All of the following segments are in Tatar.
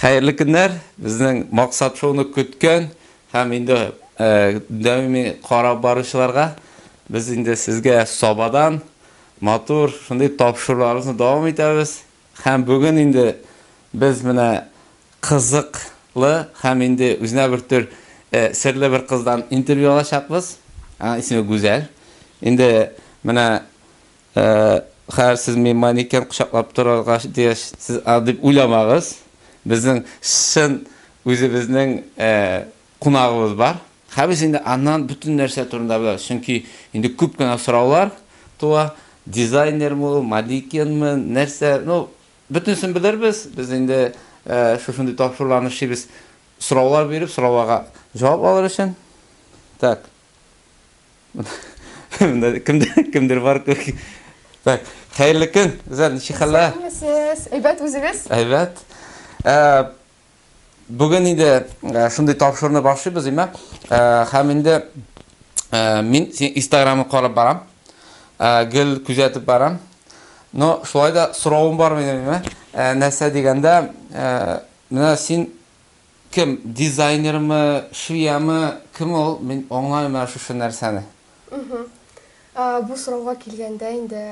Хәерле көннәр! Безнең Максат шоуны көткән һәм инде даими карап баручыларга без инде сезгә Сабадан матур шундый тапшыруларыбызны дәвам итәбез. Һәм бүген инде без менә кызыклы һәм инде үзенә бер төр серле бер кыздан интервью алачакбыз. Аның исеме Гүзәл. Инде менә Хәер, сез мин манекен кочаклап торырга тиеш, сез аны дип уйламагыз. Безнең чын үзебезнең кунагыбыз бар. Хәер, без инде аннан бөтен нәрсә турында беләбез, чөнки инде күп кенә сораулар туа, дизайнермы ул, манекенмы, нәрсә, ну, бөтенесен белербез, без инде шушындый тапшыруларны эшлибез, сораулар биреп, сорауларга җавап алыр өчен. Так. Кемдер бар күрки. Так, хәерле көн. Үзәр ничек хәлләр? Сез әйбәт үзегез? Әйбәт. Э, Бүген инде э, шундый тапшыруны башлыйбыз, имә. Э, һәм инде мин Instagram карап барам. Гел күзәтеп барам. Но шулай да соравым бар минем, имә. Нәрсә дигәндә, менә син Кем, дизайнермы, швеямы, кем ул, мин аңламыйм менә шушы нәрсәне. Мхм. Бу сорауга килгәндә инде,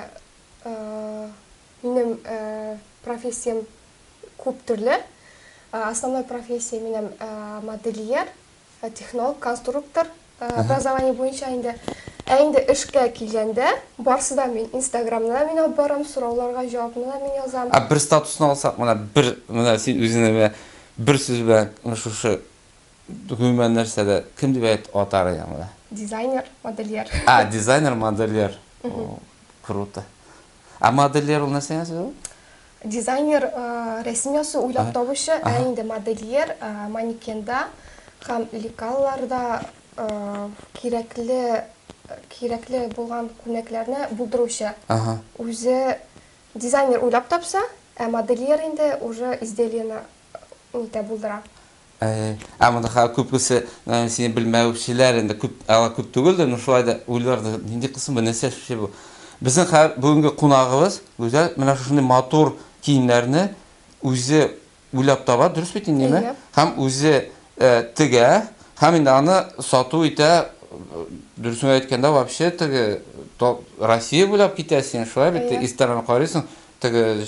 минем профессиям күп төрле. Основной профессия минем модельер, технолог, конструктор, Образование буенча инде. Ә инде эшкә килгәндә, барсы да мин. Инстаграмны да мин алып барам, сорауларга җавапны да мин язам. Ә бер статусны алсак, менә бер, менә син үзеңне менә бер сүз белән менә шушы, гомумән нәрсә дә, кем дип әйт, атар идең менә? Дизайнер, модельер. А, дизайнер, модельер. Круто. Ә модельер ул нәрсә ясый ул? Дизайнер рәсем ясый, уйлап табучы, ә инде модельер манекенда һәм лекалларда кирәкле кирәкле булган күнәкләрне булдыручы. Үзе дизайнер уйлап тапса, ә модельер инде уже изделиене нитә булдыра. Ә монда хәзер күбесе сине белмәүчеләр инде күп, алар күп түгелдер, но шулай да уйлардыр, нинди кыз соң бу, нәрсә эшләшли бу? Безнең хәзер бүгенге кунагыбыз Гүзәл менә шушындый матур киемнәрне үзе уйлап таба, дөрес бит инде, әйеме? Һәм үзе тегә, һәм инде аны сату итә, дөресен әйткәндә, вообще теге Россия буйлап китә син, шулай бит, Иртәрәк карыйсың, теге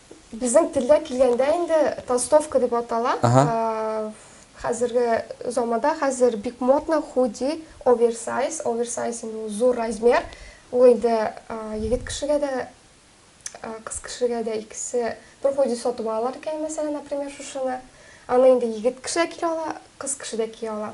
Безнең телдә килгәндә инде толстовка дип атала. Хәзерге заманда хәзер бик модно худи, оверсайз. Оверсайз инде ул зур размер. Ул инде егет кешегә дә, кыз кешегә дә икесе бер худи сатып алалар икән, мәсәлән, например, шушыны. Аны инде егет кеше дә кия ала, кыз кеше дә кия ала.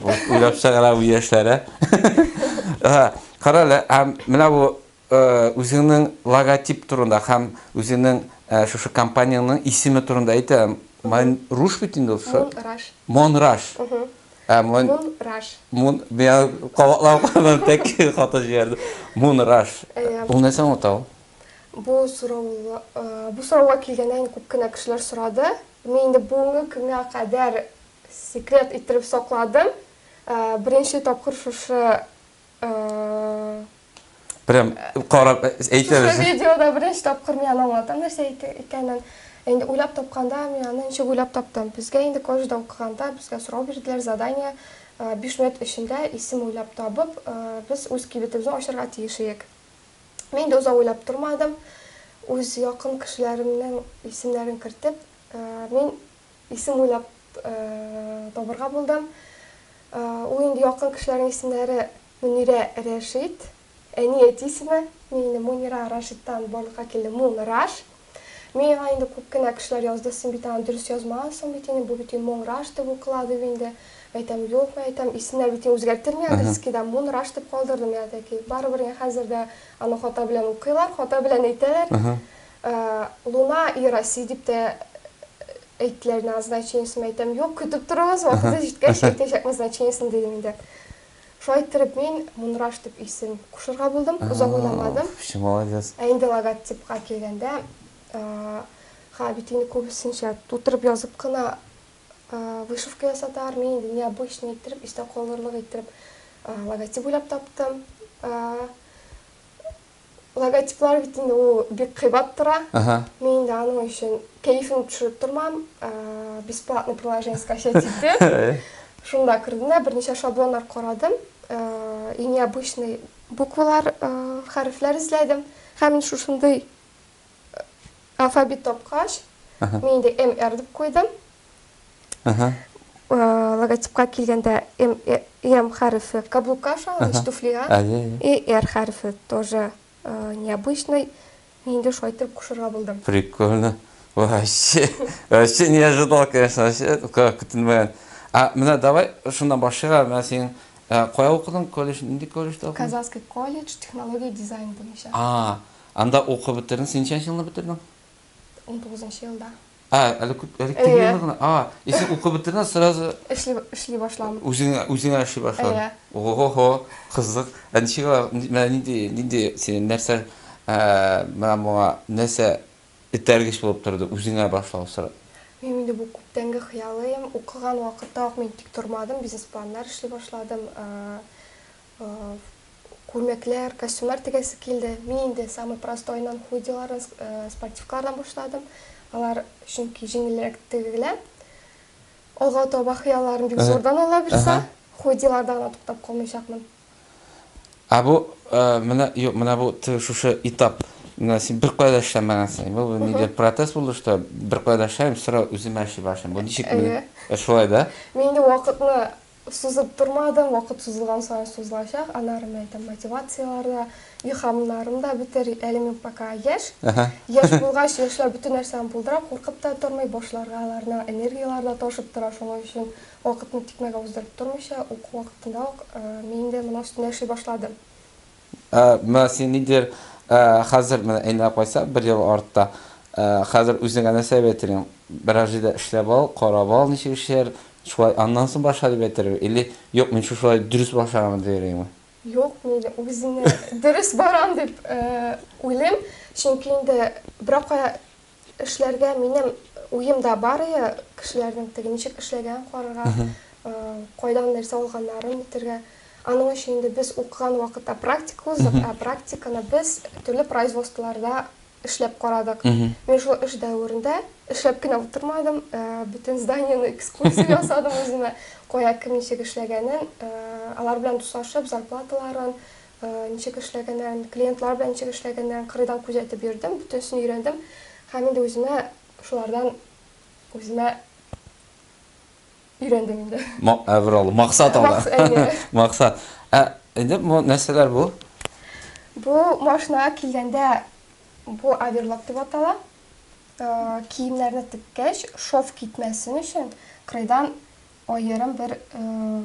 Уйлап чыгара бу яшьләре. Карале, һәм менә бу үзеңнең логотип турында һәм үзеңнең шушы компаниянең исеме турында әйтәм. Мон Руш бит инде ул. Мон Раш. Мон Раш. Мон Раш. Кабатлап карадым, тәк хата җибәрде. Мон Раш. Ул нәрсә аңлата ул? Бу сорау, бу сорауга килгәндә күп кенә кешеләр сорады. Мин инде бүгенге көнгә кадәр Секрет иттереп сакладым. Беренче тапкыр шушы Прям карап әйтәбез. Шушы видеода беренче тапкыр мин аны аңлатам, нәрсә икәнен. Инде уйлап тапканда, мин аны ничек уйлап таптым. Безгә инде колледжда укыганда, безгә сорау бирделәр, задание, 5 минут эчендә исем уйлап табып, без үз кибетебезне ачарга тиеш идек. Мин дә озак уйлап тормадым. Үз якын кешеләремнең исемнәрен кертеп, мин Исем уйлап табырга булдым. Ул инде якын кешеләрнең исемнәре Мөнирә Рәшит, әни әти исеме. Мин инде Мөнира Рашиттан барлыкка килдем, Мун Раш. Миңа инде күп кенә кешеләр язды, син бит аны дөрес язмагансың бит инде, бу бит Мон Раш дип укыла, дип инде. Әйтәм, юк, мин әйтәм, исемнәр бит үзгәртелми английскийда, Мун Раш дип калдырдым, я таки. Барыбер инде хәзер дә аны хата белән укыйлар, хата белән әйтәләр. Луна и Россия дип тә әйттеләр, назначениесен әйтәм. Юк, көтеп торыгыз, вакыты җиткәч әйтәчәк назначениесен дидем инде. Шулай иттереп мин Мунраш дип исем кушырга булдым, озак уйламадым. Чын молодец. Ә инде логотипка килгәндә, ха, бит инде күбесенчә тутырып язып кына вышивка ясаталар, мин инде необычный иттереп, истә калырлык иттереп логотип уйлап таптым. Логотиплар бит инде ул бик кыйбат тора. Мин инде аның өчен кәефен төшереп тормам. Бесплатный приложение скачать итеп, шунда кердем дә берничә шаблоннар карадым. Иң необычный буквалар, хәрефләр эзләдем. Һәм мин шушындый Алфавит тапкач, мин инде MR дип куйдым. Логотипка килгәндә M хәрефе каблукка ошаган, то есть туфлига. И R хәрефе тоже необычный. Мин инде шулай итеп кушырга булдым. Прикольно. Вообще, вообще не ожидал, конечно, вообще көтелмәгән. А менә давай шуннан башлыйк, менә син кая укыдың, колледж, нинди колледжда укыдың? Казанский колледж, технология дизайн буенча. А, Анда укып бетердең. Син ничәнче елны бетердең? Унтугызынчы елда. Ә, әле күп, әле кем елны гына. А, и син укып бетердең, сразу. Эшли, эшли башладым. Үзең, үзеңә эшли башладың. Әйе. Ого-хо, кызык. Ә ничек алай, менә нинди, нинди синең нәрсә, ә, менә моңа нәрсә этәргеч булып торды үзеңә башлау сорап? Минем инде бу күптәнге хыялым. Укыган вакытта ук мин тик тормадым, бизнес-планнар эшли башладым. Ә. Күлмәкләр, костюмнар тегәсе килде. Мин инде самый простойнан, худилардан, спортивкалардан башладым. Алар чөнки җиңелрәк тегелә. Алга таба хыялларым бик зурдан ала бирсә, худиларда гына туктап калмыйчакмын. Ә бу менә, юк, менә бу шушы этап. Менә син беркая да эшләмәгәнсең. Бу нидер протест булды, что беркая да эшләмим, сразу үземә эшли башлыйм. Бу ничек? Әйе. Шулай да? Мин инде вакытны Сузып тормадым, вакыт сузылган саен сузылачак, аннары мин әйтәм, мотивацияләр дә, илһамнарым да бетер, әле мин пока яшь, яшь булгач, яшьләр бөтен нәрсәне булдыра, куркып та тормый, башларга аларның энергияләре дә ташып тора, шуның өчен вакытны тикмәгә уздырып тормыйча, уку вакытында ук мин инде моның өстендә эшли башладым. Ә, менә син нидер, ә, хәзер, менә әйләнеп кайтсак, бер ел артта, ә, хәзер үзеңә нәрсә дип әйтер идең? Берәр җирдә эшләп ал, карап ал, ничек эшләр, шулай аннан соң башла дип әйтергә, или, юк, мин шушылай дөрес башлаганмын дияр идеңме? Юк, мин үземне дөрес барам дип, ә, уйлыйм, чөнки инде берәр кая, Эшләргә минем уемда бар иде, кешеләрнең теге ничек эшләгәнен карарга, кайдан нәрсә алганнарын бетерергә. Аның өчен инде без укыган вакытта практика уздык, ә практиканы без төрле производстволарда эшләп карадык. Мин шул эш дәверендә эшләп кенә утырмадым, бөтен зданиене экскурсия ясадым үземә, кая кем ничек эшләгәнен, алар белән дуслашып, зарплаталарын, Ничек эшләгәннәрен, клиентлар белән ничек эшләгәннәрен кырыйдан күзәтеп йөрдем, бөтенесен өйрәндем һәм инде үземә шулардан үземә өйрәндем инде. Ма, ә, бер алды. Максат алды. Макс, әйе. Максат. Ә, инде бу нәрсәләр бу? Бу машинага килгәндә, бу оверлок дип атала. Ә, киемнәрне теккәч, шов китмәсен өчен, кырыйдан аерым бер, ә,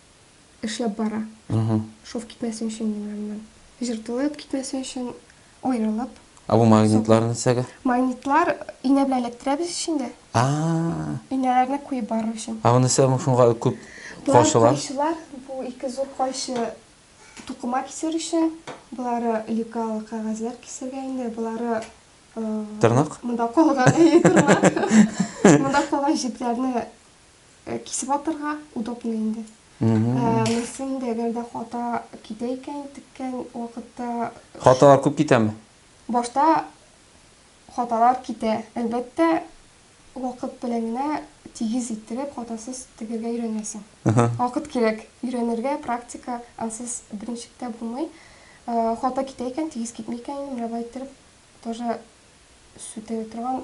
эшләп бара. Шов китмәсен өчен менә моннан. Җыртылып китмәсен өчен аерылып. Ә бу магнитлар нәрсәгә? Магнитлар инә белән эләктерәбез ич инде. А. Инәләрне куеп барыр өчен. Ә бу нәрсә шуңа күп кайчылар? Кайчылар бу ике зур кайчы тукыма кисер өчен, болары лекала кәгазьләр кисергә инде, болары тырнак. Монда калган әйе тырнак. Монда калган җепләрне Кисеп атырга удобно инде. Мөслим дә әгәр дә хата китә икән теккән вакытта. Хаталар күп китәме? Башта хаталар китә, әлбәттә, вакыт белән генә тигез иттереп, хатасыз тегергә өйрәнәсең. Вакыт кирәк өйрәнергә, практика, ансыз беренчектә булмый. Хата китә икән, тигез китми икән инде, мәрәбә иттереп тоже сүтә торган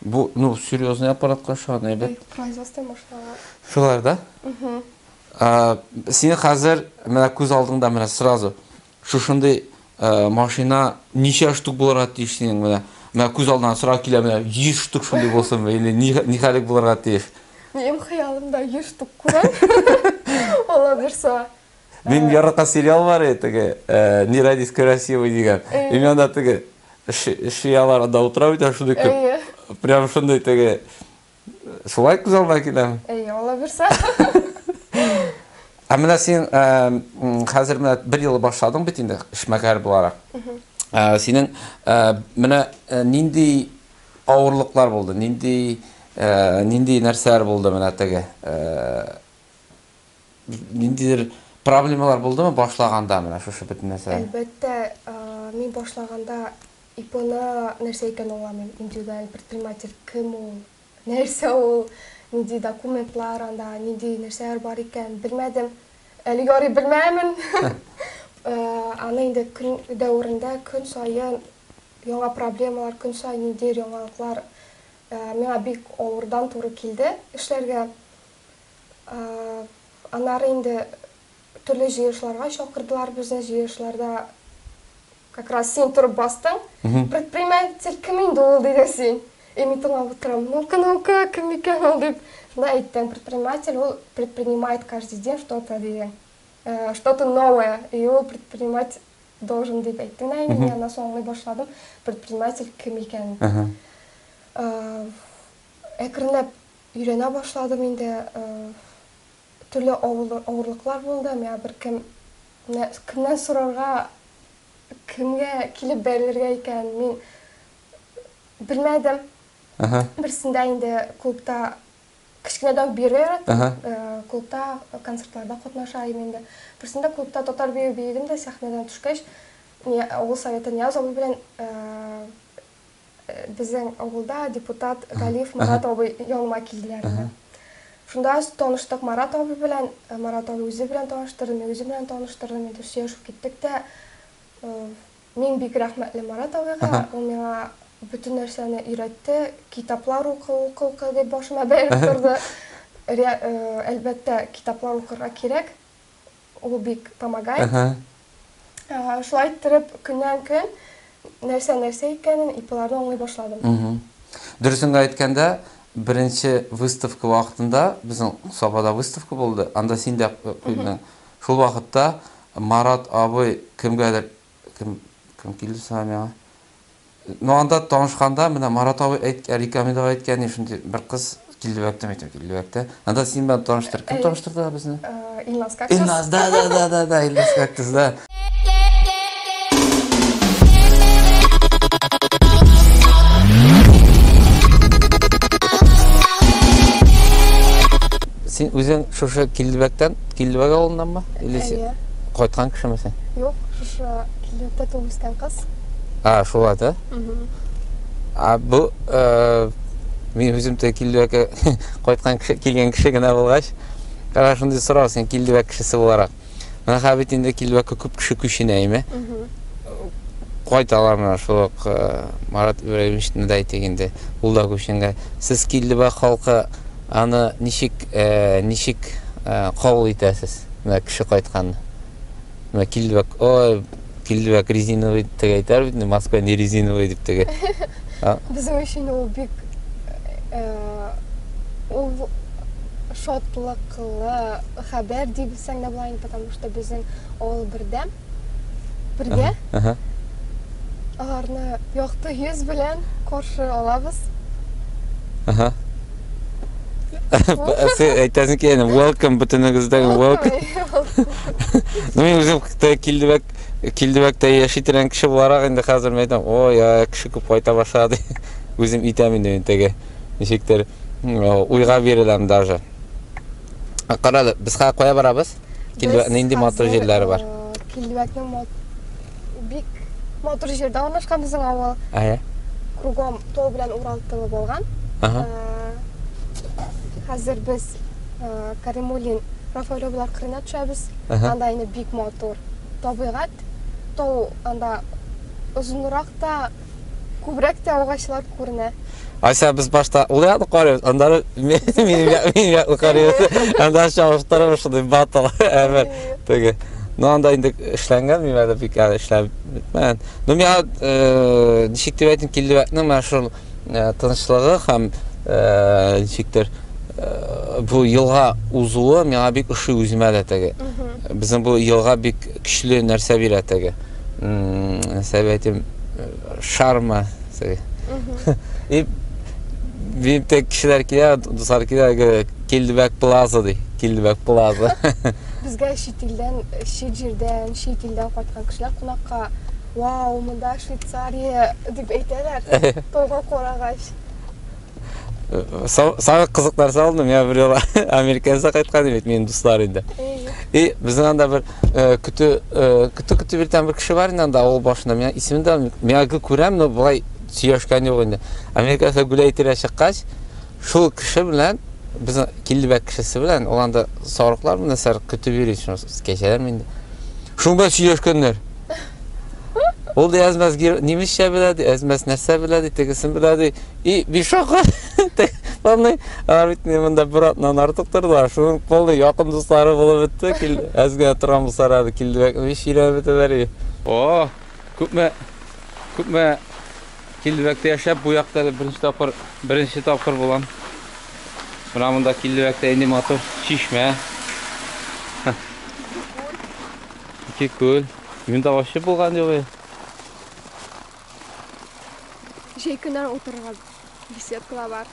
Бу, ну, серьезный аппаратка ошаган әйбәт. Производство машиналар. Шулар да? Угу. Сине хәзер менә күз алдыңда менә сразу шушындый машина ничә штук булырга тиеш синең менә? Менә күз алдына сразу килә менә 100 штук шундый булсын или ни хәлек булырга тиеш? Минем хыялымда 100 штук күрәм. Алла бирса. Минем яраткан сериал бар иде, теге Не родись красивой дигән. И мен анда теге шиялар анда утыра бит, шундый күп. Прям шундый теге шулай күз алдына киләме? Әйе, ала бирсә. Ә менә син хәзер менә бер ел башладың бит инде эшмәкәр буларак. Синең менә нинди авырлыклар булды, нинди нинди нәрсәләр булды менә теге Ниндидер проблемалар булдымы башлаганда менә шушы бөтен нәрсә? Әлбәттә, мин башлаганда ИПны нәрсә икәнен аңламыйм. Индивидуаль предприниматель кем ул, нәрсә ул, нинди документлар анда, нинди нәрсәләр бар икән, белмәдем. Әле ярый белмәмен. Аны инде көн дәверендә көн саен яңа проблемалар, көн саен ниндидер яңалыклар миңа бик авырдан туры килде эшләргә. Аннары инде төрле җыелышларга чакырдылар безне, җыелышларда как раз син торып бастың. Предприниматель кем инде ул диде син. И мин тыңлап утырам. Ну-ка, ну-ка, кем икән ул дип. Шунда әйттең, предприниматель ул предпринимает каждый день что-то диде. Э, что-то новое. И ул предпринимать должен дип әйттең да инде. Мин аннан соң башладым. Предприниматель кем икән. Э, әкренләп Өйрәнә башладым инде. Төрле авырлыклар булды. Миңа беркем, менә кемнән сорарга, кемгә килеп бәрелергә икәнен мин белмәдем. Берсендә инде клубта, кечкенәдән үк биергә яратам. Клубта концертларда катнаша идем инде. Берсендә клубта татар биюе биедем дә, сәхнәдән төшкәч, авыл советы Нияз абый белән Безнең авылда депутат Галиев Марат абый яныма килделәр иде. Шунда таныштык Марат абый белән, Марат абый үзе белән таныштырды, мин үзе белән таныштырдым, инде сөйләшеп киттек тә. Мин бик рәхмәтле Марат абыйга, ул миңа бөтен нәрсәне өйрәтте, китаплар укы, укы, укы дип башыма бәеп торды. Әлбәттә, китаплар укырга кирәк. Ул бик помогай. Шулай иттереп, көннән-көн нәрсә нәрсә икәнен, ИПларны аңлый башладым. Дөресен генә әйткәндә, беренче выставка вакытында, безнең Сабада выставка булды, анда син дә куйдың. Шул вакытта Марат абый кемгәдер, кем килде соң әле миңа? Ну анда танышканда, менә Марат абый әйт, Рикамил абый әйткән иде, шундый бер кыз Киллебәктән мәктәп Киллебәктә. Анда син белән таныштыр. Кем таныштырды безне? Илназ Кактус. Илназ, да, да, да, да, да, Илназ Кактус, да. Син үзең шушы Киллебәктән, Киллебәк авылыннанмы? Или син кайткан кешеме син? Юк, шушы Юкта туып үскән кыз. А, шул ат, ә? А бу э, мин үзем тә килдебәккә кайткан кеше, килгән кеше генә булгач, кара шундый сорау син килдебәк кешесе буларак. Менә хәзер бит инде килдебәккә күп кеше күченә, әйме? Кайталар менә шул ук э, Марат Ибраһимовичны да әйтик инде, ул да күченгән. Сез килдебәк халкы аны ничек э, ничек э, кабул итәсез? Менә кеше кайтканны. Менә килде бак, ой, килде бак резиновый дип теге әйтәр бит, маска не резиновый дип теге. Безнең өчен ул бик ул шатлыклы хәбәр дип сәнгә булайын, потому что безнең авыл бердәм. Бергә. Ага. Аларны якты йөз белән каршы алабыз. Ага. Әсе әйтәсең ки, әне, welcome бөтенегездә welcome. Ну, мин үзем Кытай килдебәк, килдебәктә яши торган кеше буларак инде хәзер мен әйтәм, о, я, кеше күп кайта башлады. Үзем итәм инде мин теге. Ничектер уйга биреләм даже. Кара, без хәзер кая барабыз? Килбәк нинди матур җирләре бар? Килбәкнең мат... бик матур җирдә урнашкан безнең авыл. Әйе. Кругом тау белән Урал тылы булган. Ага. Хәзер без Каримулин Рафаэловлар кырына төшәбез. Анда инде бик матур табигать. Тау анда озынрак та, Күбрәк тә агачлар күренә. Ася без башта ул якны карыйбыз, аннары минем якны карыйбыз. Анда чагыштырып шундый батл әмер теге. Ну анда инде эшләнгән мин әле бик әле эшләп бетмәгән. Ну миңа э, ничек дип әйтим килде вакытның менә шул э, тынычлыгы һәм э, ничектер бу елга узуы миңа бик ошый үземә дә теге. Безнең бу елга бик көчле нәрсә бирә теге. советим шарма сәби и биптә кешеләр килә дуслар килә килдебәк плаза ди килдебәк плаза безгә чит илдән чит җирдән чит илдән кайткан кешеләр кунакка вау монда швейцария дип әйтәләр тойга карагач сага кызык нәрсә алды миңа бер юлы американца кайткан бит минем дуслар инде и безнең анда бер көтү көтү көтү бер там бер кеше бар инде анда авыл башында миңа исемен дә миңа гел күрәм но болай сөйләшкән юк инде американца гүләй тирә чыккач шул кеше белән без килдебәк кешесе белән ул анда сарыклар нәрсәләр көтеп йөри кәҗәләрме инде шул белән сөйләшкәннәр Ул ди әзмәс немецчә белә, ди, әзмәс нәрсә белә, ди, тегесен белә, ди. И бишока. Полный, а бит мен монда бер атнан артык тордылар. Шуның полный якын дуслары булып бетте. Кил, әзгә торган булсалар әле килдебәк. Биш ирә бетәләр. О, күпме күпме килдебәктә яшәп, бу якта беренче тапкыр, беренче тапкыр булам. Менә монда килдебәктә инде матур чишмә. Ике күл. Мин дә ачы булган елый. Җәй көннәр утырырга беседкалар бар.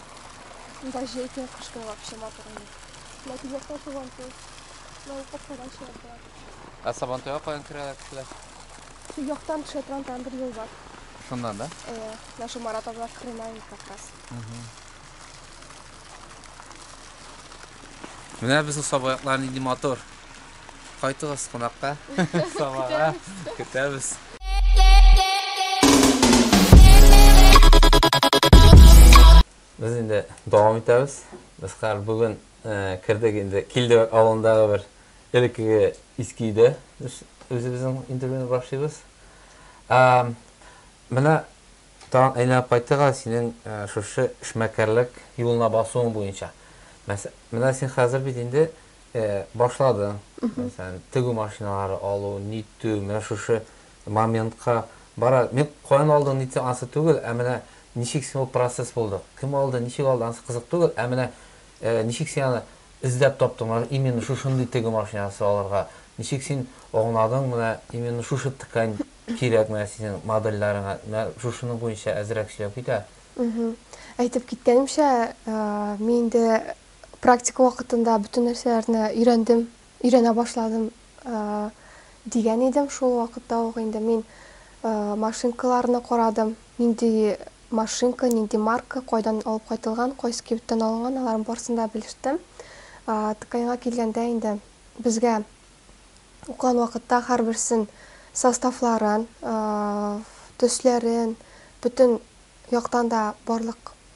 Монда җәй көн кыш көн вообще матур инде. Ләкин якта туган туй. Мал капкадан чыгарга. Ә Сабантуйга каян керәләр кешеләр? Су яктан төшә торган там бер юл бар. Шуннан да? Э, наша Марат абла Крымай как раз. Менә безнең сабаяклар нинди матур. Кайтыгыз кунакка. Сабага көтәбез. Без инде дәвам итәбез. Без хәзер бүген кердек инде Килдебәк авылындагы бер элеккеге иске өйдә. Без үзебезнең интервьюны башлыйбыз. Менә тагын әйләнеп кайтырга синең шушы эшмәкәрлек юлына басуың буенча. Менә син хәзер бит инде Башлады. Мәсәлән, тегү машиналары алу, нитү, менә шушы моментка бара. Мин каян алдың, нитсәң, ансы түгел, ә менә ничек син ул процесс булды, кем алды, ничек алды, ансы кызык түгел, ә менә ничек син аны эзләп таптың, менә именно шушындый тегү машинасы алырга, ничек син аңладың, менә именно шушы ткань кирәк менә синең модельләреңә, менә шушының буенча әзрәк сөйләп кит әле. Әйтеп киткәнемчә, мин инде практика вакытында бөтен нәрсәләрне өйрәндем, өйрәнә башладым дигән идем. Шул вакытта ук инде мин машинкаларны карадым, нинди машинка, нинди марка, кайдан алып кайтылган, кайсы кибеттән алынган, аларның барысын да белештем. ТКНга килгәндә инде безгә укыган вакытта һәрберсен составларын, төсләрен, бөтен яктан да барлык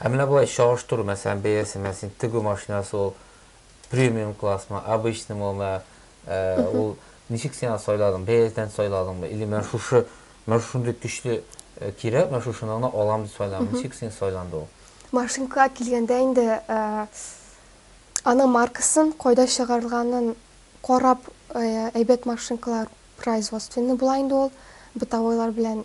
Ә менә болай чагыштыру, мәсәлән, бәясе, менә син тегү машинасы ул премиум классмы, обычный мы, мә, ә, ул ничек син аны сайладың? Бәясен сайладыңмы? Или менә шушы, менә шундый көчле э, кирәк, менә шушыны гына алам дип сайладың. Ничек син сайланды ул? Машинкага килгәндә инде ә, аның маркасын, кайда чыгарылганын карап, ә, әйбәт машинкалар производственный була инде ул, бытовойлар белән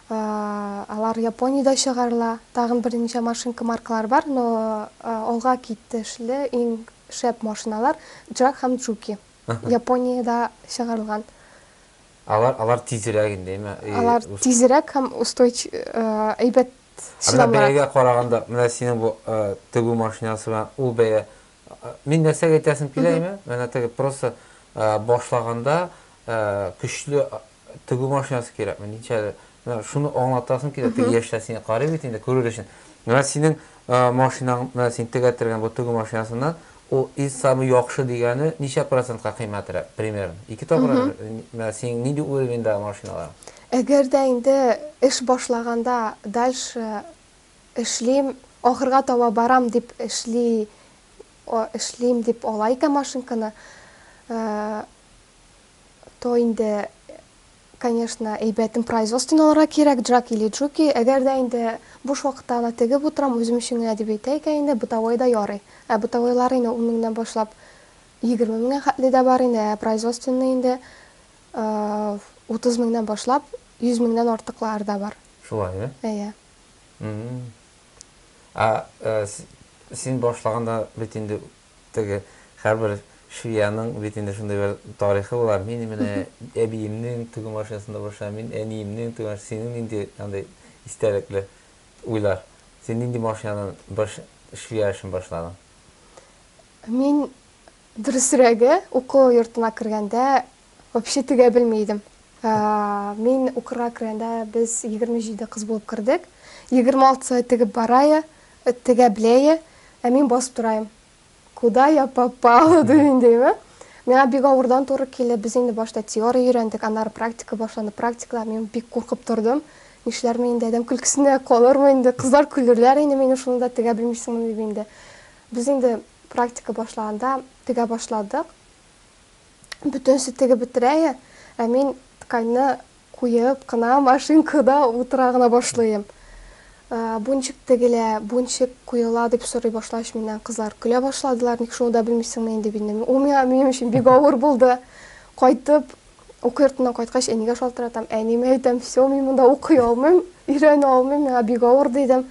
Алар Япониядә чыгарыла. Тагын берничә машинка маркалары бар, но алга китешле иң шәп машиналар Джак һәм Джуки. Япониядә чыгарылган. Алар, алар тизрәк инде, әйме? Алар тизрәк һәм устойч, әйбәт чыдамлырак. Ә менә бәягә караганда, менә синең бу тегү машинасы белән ул бәя Мин нәрсәгә әйтәсем килә име, менә теге просто башлаганда көчле тегү машинасы кирәкме, ничә әле, менә шуны аңлатасым килә, теге яшьләр сине карый бит инде, күрер өчен. Менә синең машинаң, менә син тегәтергән бу тегү машинасыннан, ул из самый яхшы дигәне ничә процентка кыйммәтрәк, примерно? Ике тапкыр, менә синең нинди уровеньдагы машиналар? Әгәр дә инде эш башлаганда дальше Эшлим, ахырга таба барам дип эшли эшлим дип ала икән машинканы, то инде, конечно, әйбәтен производствен алырга кирәк, джак или джуки, әгәр дә инде буш вакытта гына тегеп утырам, үзем өчен генә дип әйтә икән инде, бытовой да ярый. Ә бытовойлар инде ун меңнән башлап егерме меңгә хәтле дә бар инде, ә производственный инде утыз меңнән башлап йөз меңнән артыклар да бар. Шулай, ә? Әйе. Ә син башлаганда бит инде теге һәрбер швеяның бит инде шундый бер тарихы була. Мин менә әбиемнең тегү машинасында башлап, мин әниемнең тегү машинасы. Синең нинди андый истәлекле уйлар? Син нинди машинадан баш швея эшен башладың? Мин, дөресрәге, уку йортына кергәндә Вообще тегә белми идем. Мин укырга кергәндә без 27 кыз булып кердек. 26-сы тегеп барае, тегә беләе, ә мин басып тораем. Куда я попала дим диме? Миңа бик авырдан туры килде. Без инде башта теория өйрәндек, аннары практика башланды. Практикада мин бик куркып тордым. Нишләрмен инде, адәм көлкесенә калырмы инде, кызлар көлерләр инде мине шуны да тегә белмисеңме дип инде. Без инде практика башлаганда тегә башладык. бөтенесе тегеп бетерәе, ә мин тканьны куеп кына машинкада утыра гына башлыйм. Бунчик тегелә, бунчик куела, дип сорый башлач миннән кызлар көлә башладылар, ник шуны да белмисеңме инде бит инде, ул миңа минем өчен бик авыр булды. Кайтып, уку йортыннан кайткач әнигә шалтыратам, әниемә әйтәм, все, мин монда укый алмыйм, өйрәнә алмыйм, миңа бик авыр, дидем.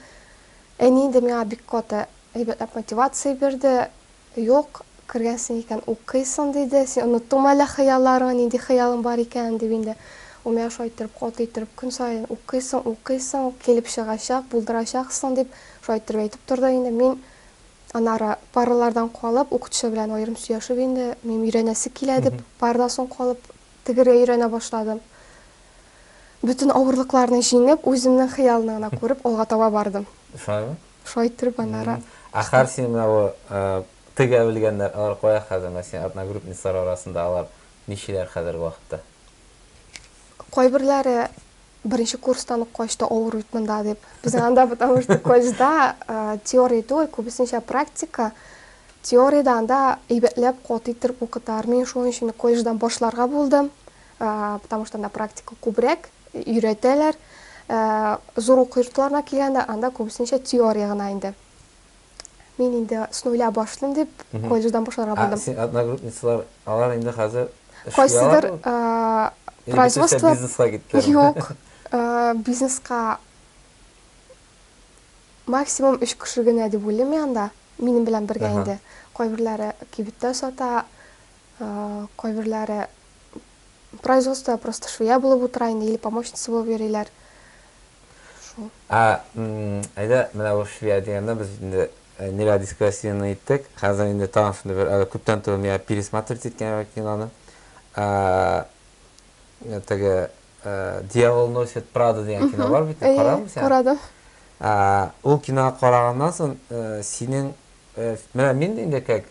Әни инде миңа бик каты әйбәтләп мотивация бирде, Юк, кергәнсең икән, укыйсың, диде. Син оныттыңмы әллә хыялларыңны, нинди хыялың бар икәнен, дип инде Умяр шулай иттереп, каты иттереп, көн саен укыйсың, укыйсың, килеп чыгачак, булдырачаксың, дип, шулай иттереп әйтеп торды инде. Мин, аннары паралардан калып, укытучы белән аерым сөйләшеп инде, минем өйрәнәсе килә, дип, парадан соң калып тегергә өйрәнә башладым. Бөтен авырлыкларны җиңеп, үземнең хыялны гына күреп, алга таба бардым. Шулаймы? Шулай иттереп аннары. Ә хәр син менә бу тегә белгәннәр алар кая хәзер менә син одногрупниклар арасында алар ничиләр хәзерге вакытта? Кайберләре беренче курстан ук качты авыр бит монда дип. Без анда потому что колледжда теория түгел, күбесенчә практика. Теориядә анда әйбәтләп каты иттереп укыталар. Мин шуның өчен колледждан башларга булдым, потому что анда практика күбрәк. өйрәтәләр. Зур уку йортларына килгәндә, анда күбесенчә теория гына инде. Мин инде с нуля башлыйм дип, колледждан башларга булдым. Ә син одногрупницалар, алар инде хәзер эшли алар бу? Производство бизнеска киттеләр. Юк, бизнеска максимум өч кеше генә дип уйлыйм мин анда. Минем белән бергә инде. Кайберләре кибеттә сата, кайберләре Производство просто швея булып утыра инде или помощница булып йөриләр. Шул. Ә, әйдә, менә бу швея дигәндә без инде Ниләр дискә сине иттек. Хәзер инде тагын шундый бер әле күптән түгел миңа пересмотреть иткән киноны. Ә теге Дьявол носит Прада дигән кино бар бит, карадыңмы син? Карадым. Ә ул кино караганнан соң синең менә мин инде как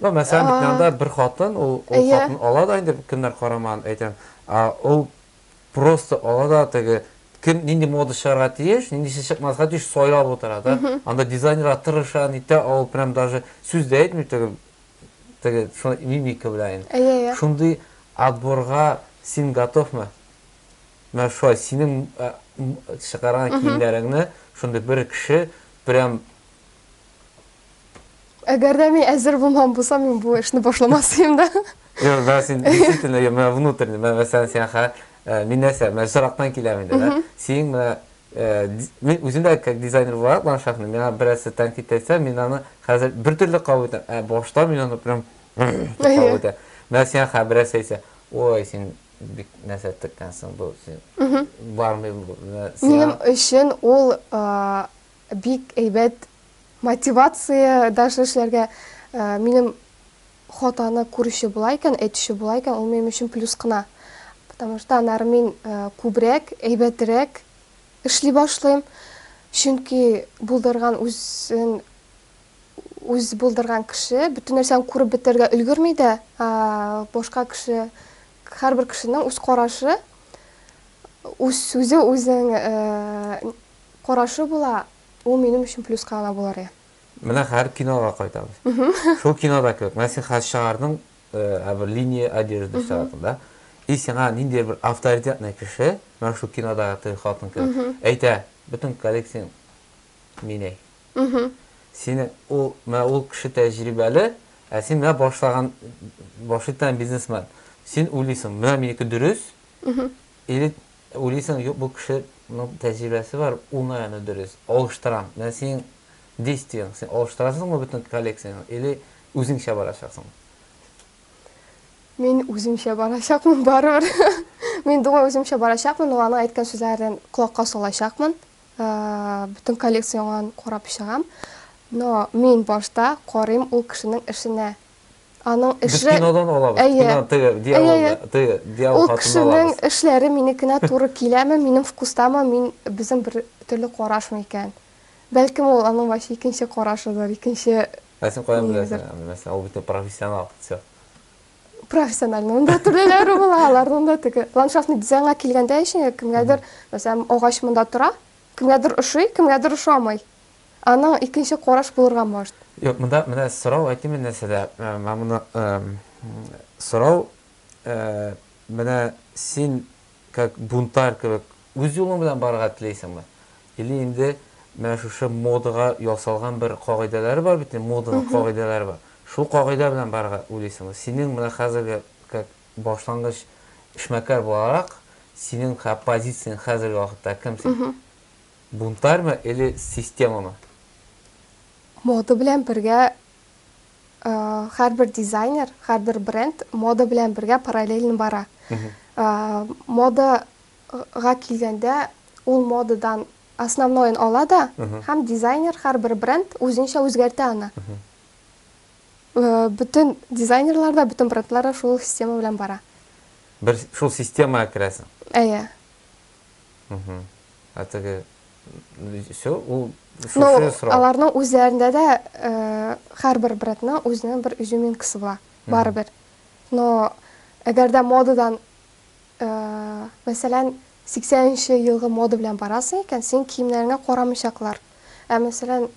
Ну, мәсәлән, бит анда бер хатын, ул хатын ала да инде көннәр караман, әйтәм, а ул просто ала да теге кем нинди мода чыгарга тиеш, ниндисе чыкмаска тиеш сайлап утыра да. Анда дизайнерга тырыша, нитә, ул прям даже сүз дә әйтми теге теге шуны мимика белән. Шундый отборга син готовмы? Менә шулай синең чыгарган киемнәреңне шундый бер кеше прям Әгәр дә мин әзер булмаган булсам, мин бу эшне башламас идем дә. Юк, менә син действительно, я менә внутренне, менә мәсәлән, син ха, э, мин нәрсә, менә сорактан киләм инде, да? Син менә э, ди- мин үзем дә как дизайнер буларак ландшафтны, миңа берәрсе тәнкыйть әйтсә, мин аны хәзер бер төрле кабул итәм. Ә башта мин аны прям дип кабул Әйе. итәм. Менә сиңа ха берәрсе әйтсә, ой, син бик нәрсә теккәнсең, бу син бармый бу. Менә сиңа- Минем өчен ул а, бик әйбәт Мотивация даже эшләргә минем хатаны күрүче була икән, әйтүче була икән, ул минем өчен плюс кына. Потому что аннары мин күбрәк, әйбәтрәк эшли башлыйм. Чөнки булдырган үзен үз булдырган кеше бөтен нәрсәне күреп бетергә өлгерми дә, башка кеше, һәрбер кешенең үз карашы, үз сүзе, үзенең карашы була. Ул минем өчен плюска гына булыр иде. Менә хәзер кинога кайтабыз. Шул кинода кебек, менә син хәзер чыгардың, ә бер линия одежды чыгардың, да? И сиңа ниндидер бер авторитетный кеше, менә шул кинодагы теге хатын кебек, әйтә, бөтен коллекцияң мин әй. Синең ул, менә ул кеше тәҗрибәле, ә син менә башлаган, башлый торган бизнесмен. Син уйлыйсың, менә минеке дөрес, или Уйлыйсың, юк, бу кешенең тәҗрибәсе бар, уңай аны дөрес, алыштырам. Менә синең действиең, син алыштырасыңмы бөтен коллекцияңне или үзеңчә барачаксың? Мин үземчә барачакмын барыбер. Мин думаю, үземчә барачакмын, но аның әйткән сүзләрен колакка салачакмын. Бөтен коллекцияңне карап чыгам. Но мин башта карыйм ул кешенең эшенә, Аның эшле... Без кинодан алабыз. Әйе. Кино, теге, дьявол, әйе, әйе. теге, дьявол Ул кешенең эшләре минекенә туры киләме, минем вкустамы, мин безнең бер төрле карашмы икән? Бәлкем ул аның вообще икенче карашыдыр, икенче Ә син каян беләсең? Мәсәлән, ул бит профессионал. Все. Профессиональның да төрлеләре була, аларның да теге. Ландшафтный дизайнга килгәндә ишең, кемгәдер, мәсәлән, агач монда тора, кемгәдер ошый, кемгәдер ошамый. Аның икенче караш булырга может. Юк, монда менә сорау әйтим мин нәрсәдә, миңа моны сорау менә син как бунтарь кебек үз юлың белән барырга телисеңме? Или инде менә шушы модага ясалган бер кагыйдәләре бар бит инде, моданың кагыйдәләре бар. Шул кагыйдә белән барырга уйлыйсыңмы? Синең менә хәзерге как башлангыч эшмәкәр буларак, синең как позицияң хәзерге вакытта кем син? Бунтарьмы или системамы? Мода белән бергә һәрбер дизайнер, һәрбер бренд мода белән бергә параллельно бара. Мода га килгәндә ул модадан основноен ала да һәм дизайнер һәрбер бренд үзенчә үзгәртә аны. Бөтен дизайнерлар да, бөтен брендлар да шул система белән бара. Бер шул системага керәсең? Әйе. Ә теге все, ул шушы срок. Аларның үзләрендә дә һәрбер брендның үзенең бер изюминкасы була, барыбер. Но әгәр дә модадан, мәсәлән, 80 нче елгы мода белән барасың икән, синең киемнәреңә карамыйчаклар. Ә мәсәлән,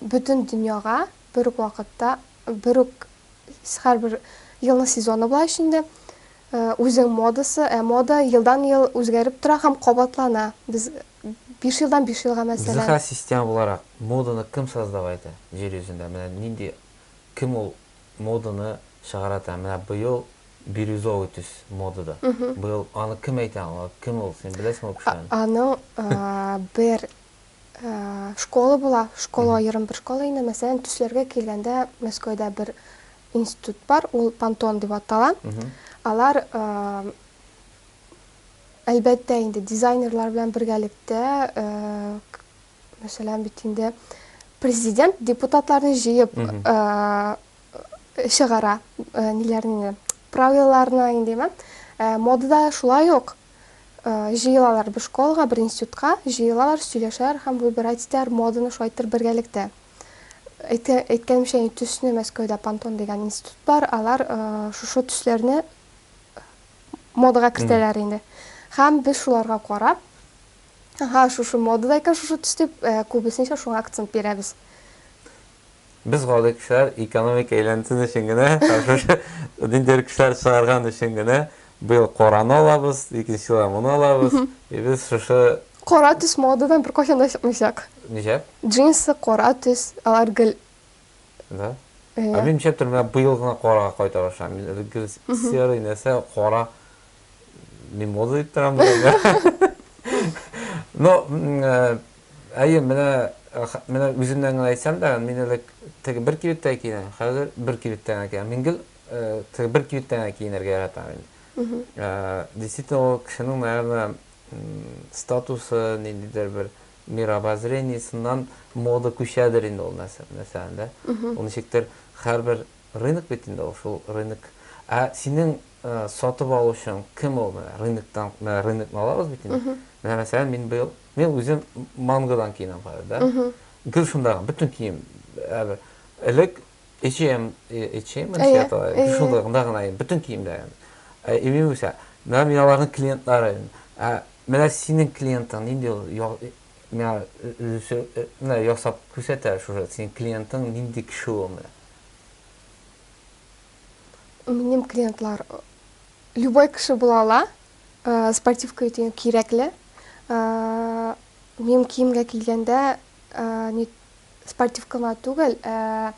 бөтен дөньяга бер үк вакытта, бер үк һәрбер елның сезоны була ич инде. Үзең модасы, ә мода елдан-ел үзгәреп тора һәм кабатлана. Без биш елдан биш елга мәсәлән. Зөһрә, система буларак, моданы кем создавай итә җир йөзендә? Менә нинди, кем ул моданы чыгара итә? Менә быел бирюзовый төс модада. Быел аны кем әйтә аңа? Кем ул? Син беләсеңме ул кешене? Аның бер Школа була, школа аерым бер школа инде. Мәсәлән, төсләргә килгәндә, Мәскәүдә бер институт бар, ул Пантон дип атала. Алар әлбәттә инде дизайнерлар белән бергәлектә, мәсәлән, бит инде президент депутатларны җыеп чыгара, ниләрне, правилаларны, индиме? Модада шулай ук. Җыелалар бер школага, бер институтка, җыелалар, сөйләшәләр һәм выбирать итәләр, моданы шайтыр бергәлектә. Әйткәнемчә инде, төсне Мәскәүдә Пантон дигән институт бар, алар шушы төсләрне модага кертәләр инде. Һәм без шуларга карап, Аһа, шушы модада икән шушы төс дип, күбесенчә шуңа акцент бирәбез. Без гади кешеләр экономик әйләнтен өчен генә һәм шушы ниндидер кешеләр чыгарган өчен генә быел кораны алабыз, икенче елга моны алабыз. И без шушы Кара төс модадан беркайчан да чыкмыйчак. Ничәп? Джинсы, кара төс, алар гел Да? Ә Әйе. мин нишләп тор, менә быел гына карага кайта башлаган. Мин элек гел серый нәрсә, кара мин мода дип торам быел. Но м, э, Әйе, менә, менә үземнән генә әйтсәм дә, мин элек теге бер кибеттә киенәм, хәзер бер кибеттә генә киенәм. Мин гел теге бер кибеттә генә киенергә яратам инде. Действительно, ул кешенең, наверное, статусы, ниндидер бер мирообозрениесеннан мода күчәдер инде ул нәрсә, мәсәлән, дә. Ул ничектер һәрбер рынок бит инде ул, шул рынок. Ә синең сатып алучың кем ул? Менә рыноктан, менә рынокны алабыз бит инде. Менә, мәсәлән, мин быел Мин үзем мангодан киенәм хәзер, да? Гел шундагы, бөтен кием. Элек H&M, H&M дип атала. Шунда гына гына бөтен киемдә. Ә имин үсә. Менә мин аларның клиентлары. Ә менә синең клиентың нинди ул? Менә режиссер менә ясап күрсәтә шушы синең клиентың нинди кеше ул менә. Минем клиентлар любой кеше була ала. Спортивка өти кирәкле. Минем киемгә килгәндә, ни спортивкама түгел, ә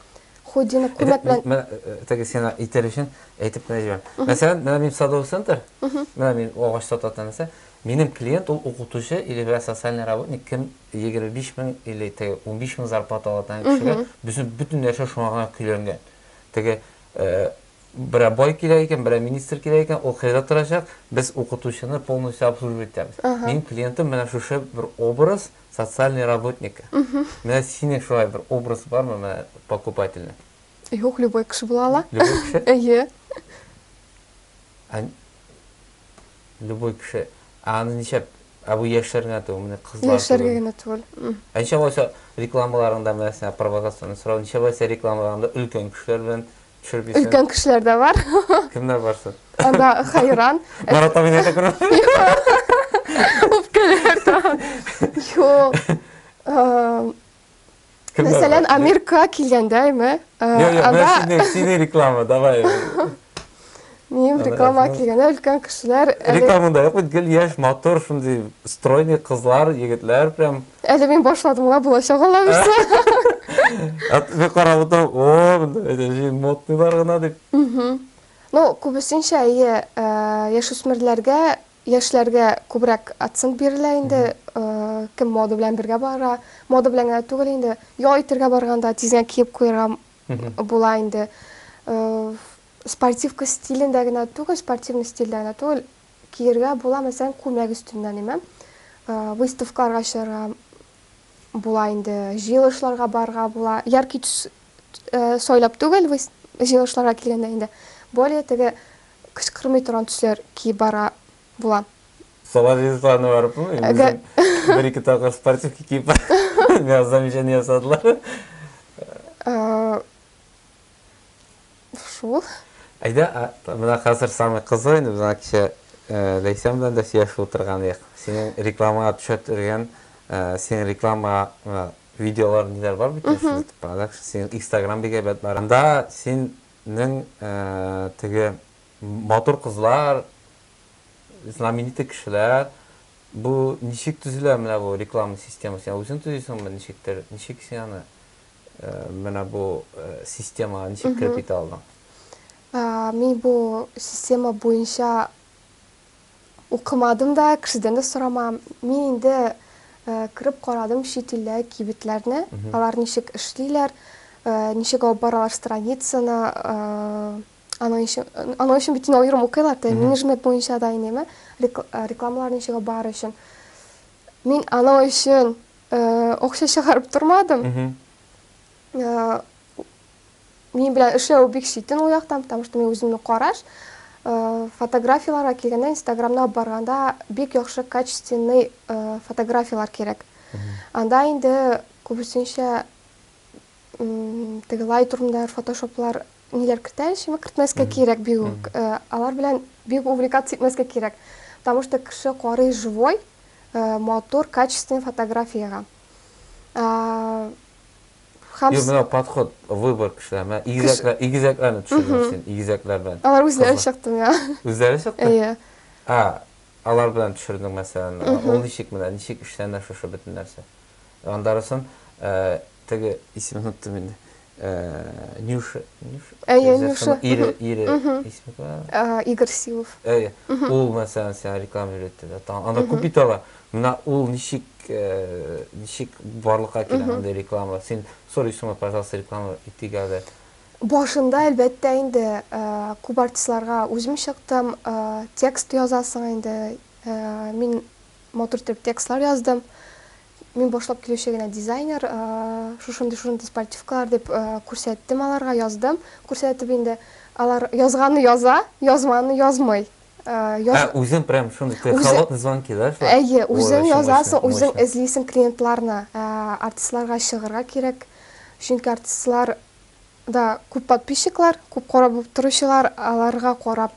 худдины күлмәк белән. Менә теге сиңа итәр өчен әйтеп кенә җибәр. Мәсәлән, менә мин садовый центр, менә мин агач сататын нәрсә. Минем клиент ул укытучы или бер социальный работник, кем 25 мең или теге 15 мең зарплата алатын кешегә, безнең бөтен нәрсә шуңа гына көйләнгән. Теге Берәр бай кирәк икән, берәр министр кирәк икән, ул кайда торачак? Без укытучыны полностью обслуживать итәбез. Минем клиентым менә шушы бер образ социальный работнигы. Менә синең шулай бер образ бармы, менә покупательный? Юк, любой кеше була ала. Любой кеше? Әйе. Ә любой кеше. Ә аны ничәп? Ә бу яшьләр генә түгел, менә кызлар түгел. Яшьләргә генә түгел. Ә ничә булса рекламаларыңда менә сиңа провокационный сорау, ничә булса рекламаларыңда өлкән кешеләр белән Төшереп Өлкән кешеләр дә бар. Кемнәр барсы? Анда Хайран. Марат абыйны әйтә күрә. Үпкәләр тагын. Юк. Мәсәлән, Америка килгәндә, әйме? Анда... Сине реклама, давай. Мин реклама килгәндә өлкән кешеләр Реклама да юк бит, гел яшь, матур, шундый стройный кызлар, егетләр прям. Әле мин башладым ла булачак алла бирса. Мин карап утырам, о, модныйлар гына дип. Ну, күбесенчә әйе, яшүсмерләргә, яшьләргә күбрәк акцент бирелә инде, кем мода белән бергә бара, мода белән генә түгел инде, ял итәргә барганда тиз генә киеп куярга була инде. Спортивка стилендә генә түгел, спортивный стильдә генә түгел, киергә була, мәсәлән, күлмәк өстеннән имән, выставкаларга чыгарга була инде, җыелышларга барырга була, яркий төс сайлап түгел, җыелышларга килгәндә инде, более теге кычкырмый торган төсләр киеп барырга була. Салавиев аны барып, үзең бер-ике тапкыр спортивка киеп барган замечание ясадылар. Шул. Әйдә, менә хәзер самый кызыгы инде, без ана кичә Ләйсән белән дә сөйләшеп утырган идек. Синең рекламага төшә торган, синең реклама видеолар ниләр бар бит инде, продакшн, синең Instagram бик әйбәт бар. Анда синең теге матур кызлар, знаменитый кешеләр, бу ничек төзелә менә бу реклама системасы? Үзең төзисеңме, ничектер, ничек син аны Менә бу системага ничек кереп китә алдың? Мин бу система буенча укымадым да, кешедән дә сорамам. Мин инде кереп карадым чит илдә кибетләрне, алар ничек эшлиләр, ничек алып баралар страницаны, аның өчен бит инде аерым укыйлар да, менеджмент буенча да инеме, рекламалар ничек алып барыр өчен. Мин анау өчен акча чыгарып тормадым. Мин белән эшләү бик читен ул яктан, потому что мин үземне караш. Фотографияләргә килгәндә, Инстаграмда барганда бик яхшы качественный фотографияләр кирәк. Анда инде күбесенчә Теге лайтрумдар, фотошоплар ниләр кертә эчемә кертмәскә кирәк бик үк. Алар белән бик увлекаться итмәскә кирәк. Потому что кеше карый живой, матур, качественный фотографиягә. Юк, менә подход, выбор кешеләр. Менә игезәкләр, игезәкләрне төшердең син, игезәкләр белән. Алар үзләре чыкты миңа. Үзләре чыкты? Әйе. А, алар белән төшердең мәсәлән. Ул ничек менә, ничек эшләнә шушы бөтен нәрсә? Гандарысын теге исемен оныттым инде. Нюша, Нюша. Әйе, Нюша. Ире, ире. Исеме Игорь Силов. Әйе. Ул мәсәлән сиңа реклама өйрәтте дә. Аны күп ит ала. Менә ул ничек, ничек барлыкка килә андый реклама? Син сорыйсыңмы, пожалуйста, реклама итик әле? Башында, әлбәттә, инде күп артистларга үзем чыктым. Текст язасың инде. Мин Матур итеп текстлар яздым. Мин башлап килүче генә дизайнер. Шушындый-шушындый спальтивкалар дип күрсәттем аларга, яздым. Күрсәтеп инде алар язганны яза, язманны язмый. Ә үзең прям шундый холодный звонки, да, шулай? Әйе, үзең язасың, үзең эзлисең клиентларны. Артистларга чыгарга кирәк. Чөнки артистлар да күп подписчиклар, күп карап утыручылар, аларга карап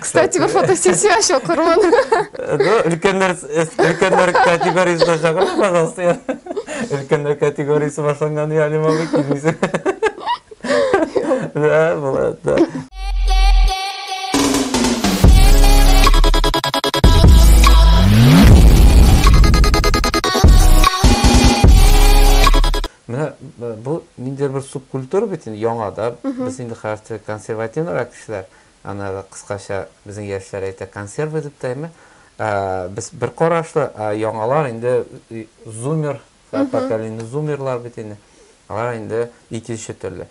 Кстати, бер фотосессия ачу кырмын. Ну, өлкәннәр, өлкәннәр категориясенә чакырып, пожалуйста, я. Өлкәннәр категориясе башланган я әле мабый килмисең. Да, булат, да. Менә бу ниндидер бер субкультура бит инде яңа да. Без инде хәзер консервативрак кешеләр. Аннары кыскача безнең яшьләр әйтә консерва дип тәме. Без бер карашлы, яңалар инде зумер, поколение зумерлар бит инде. Алар инде икенче төрле.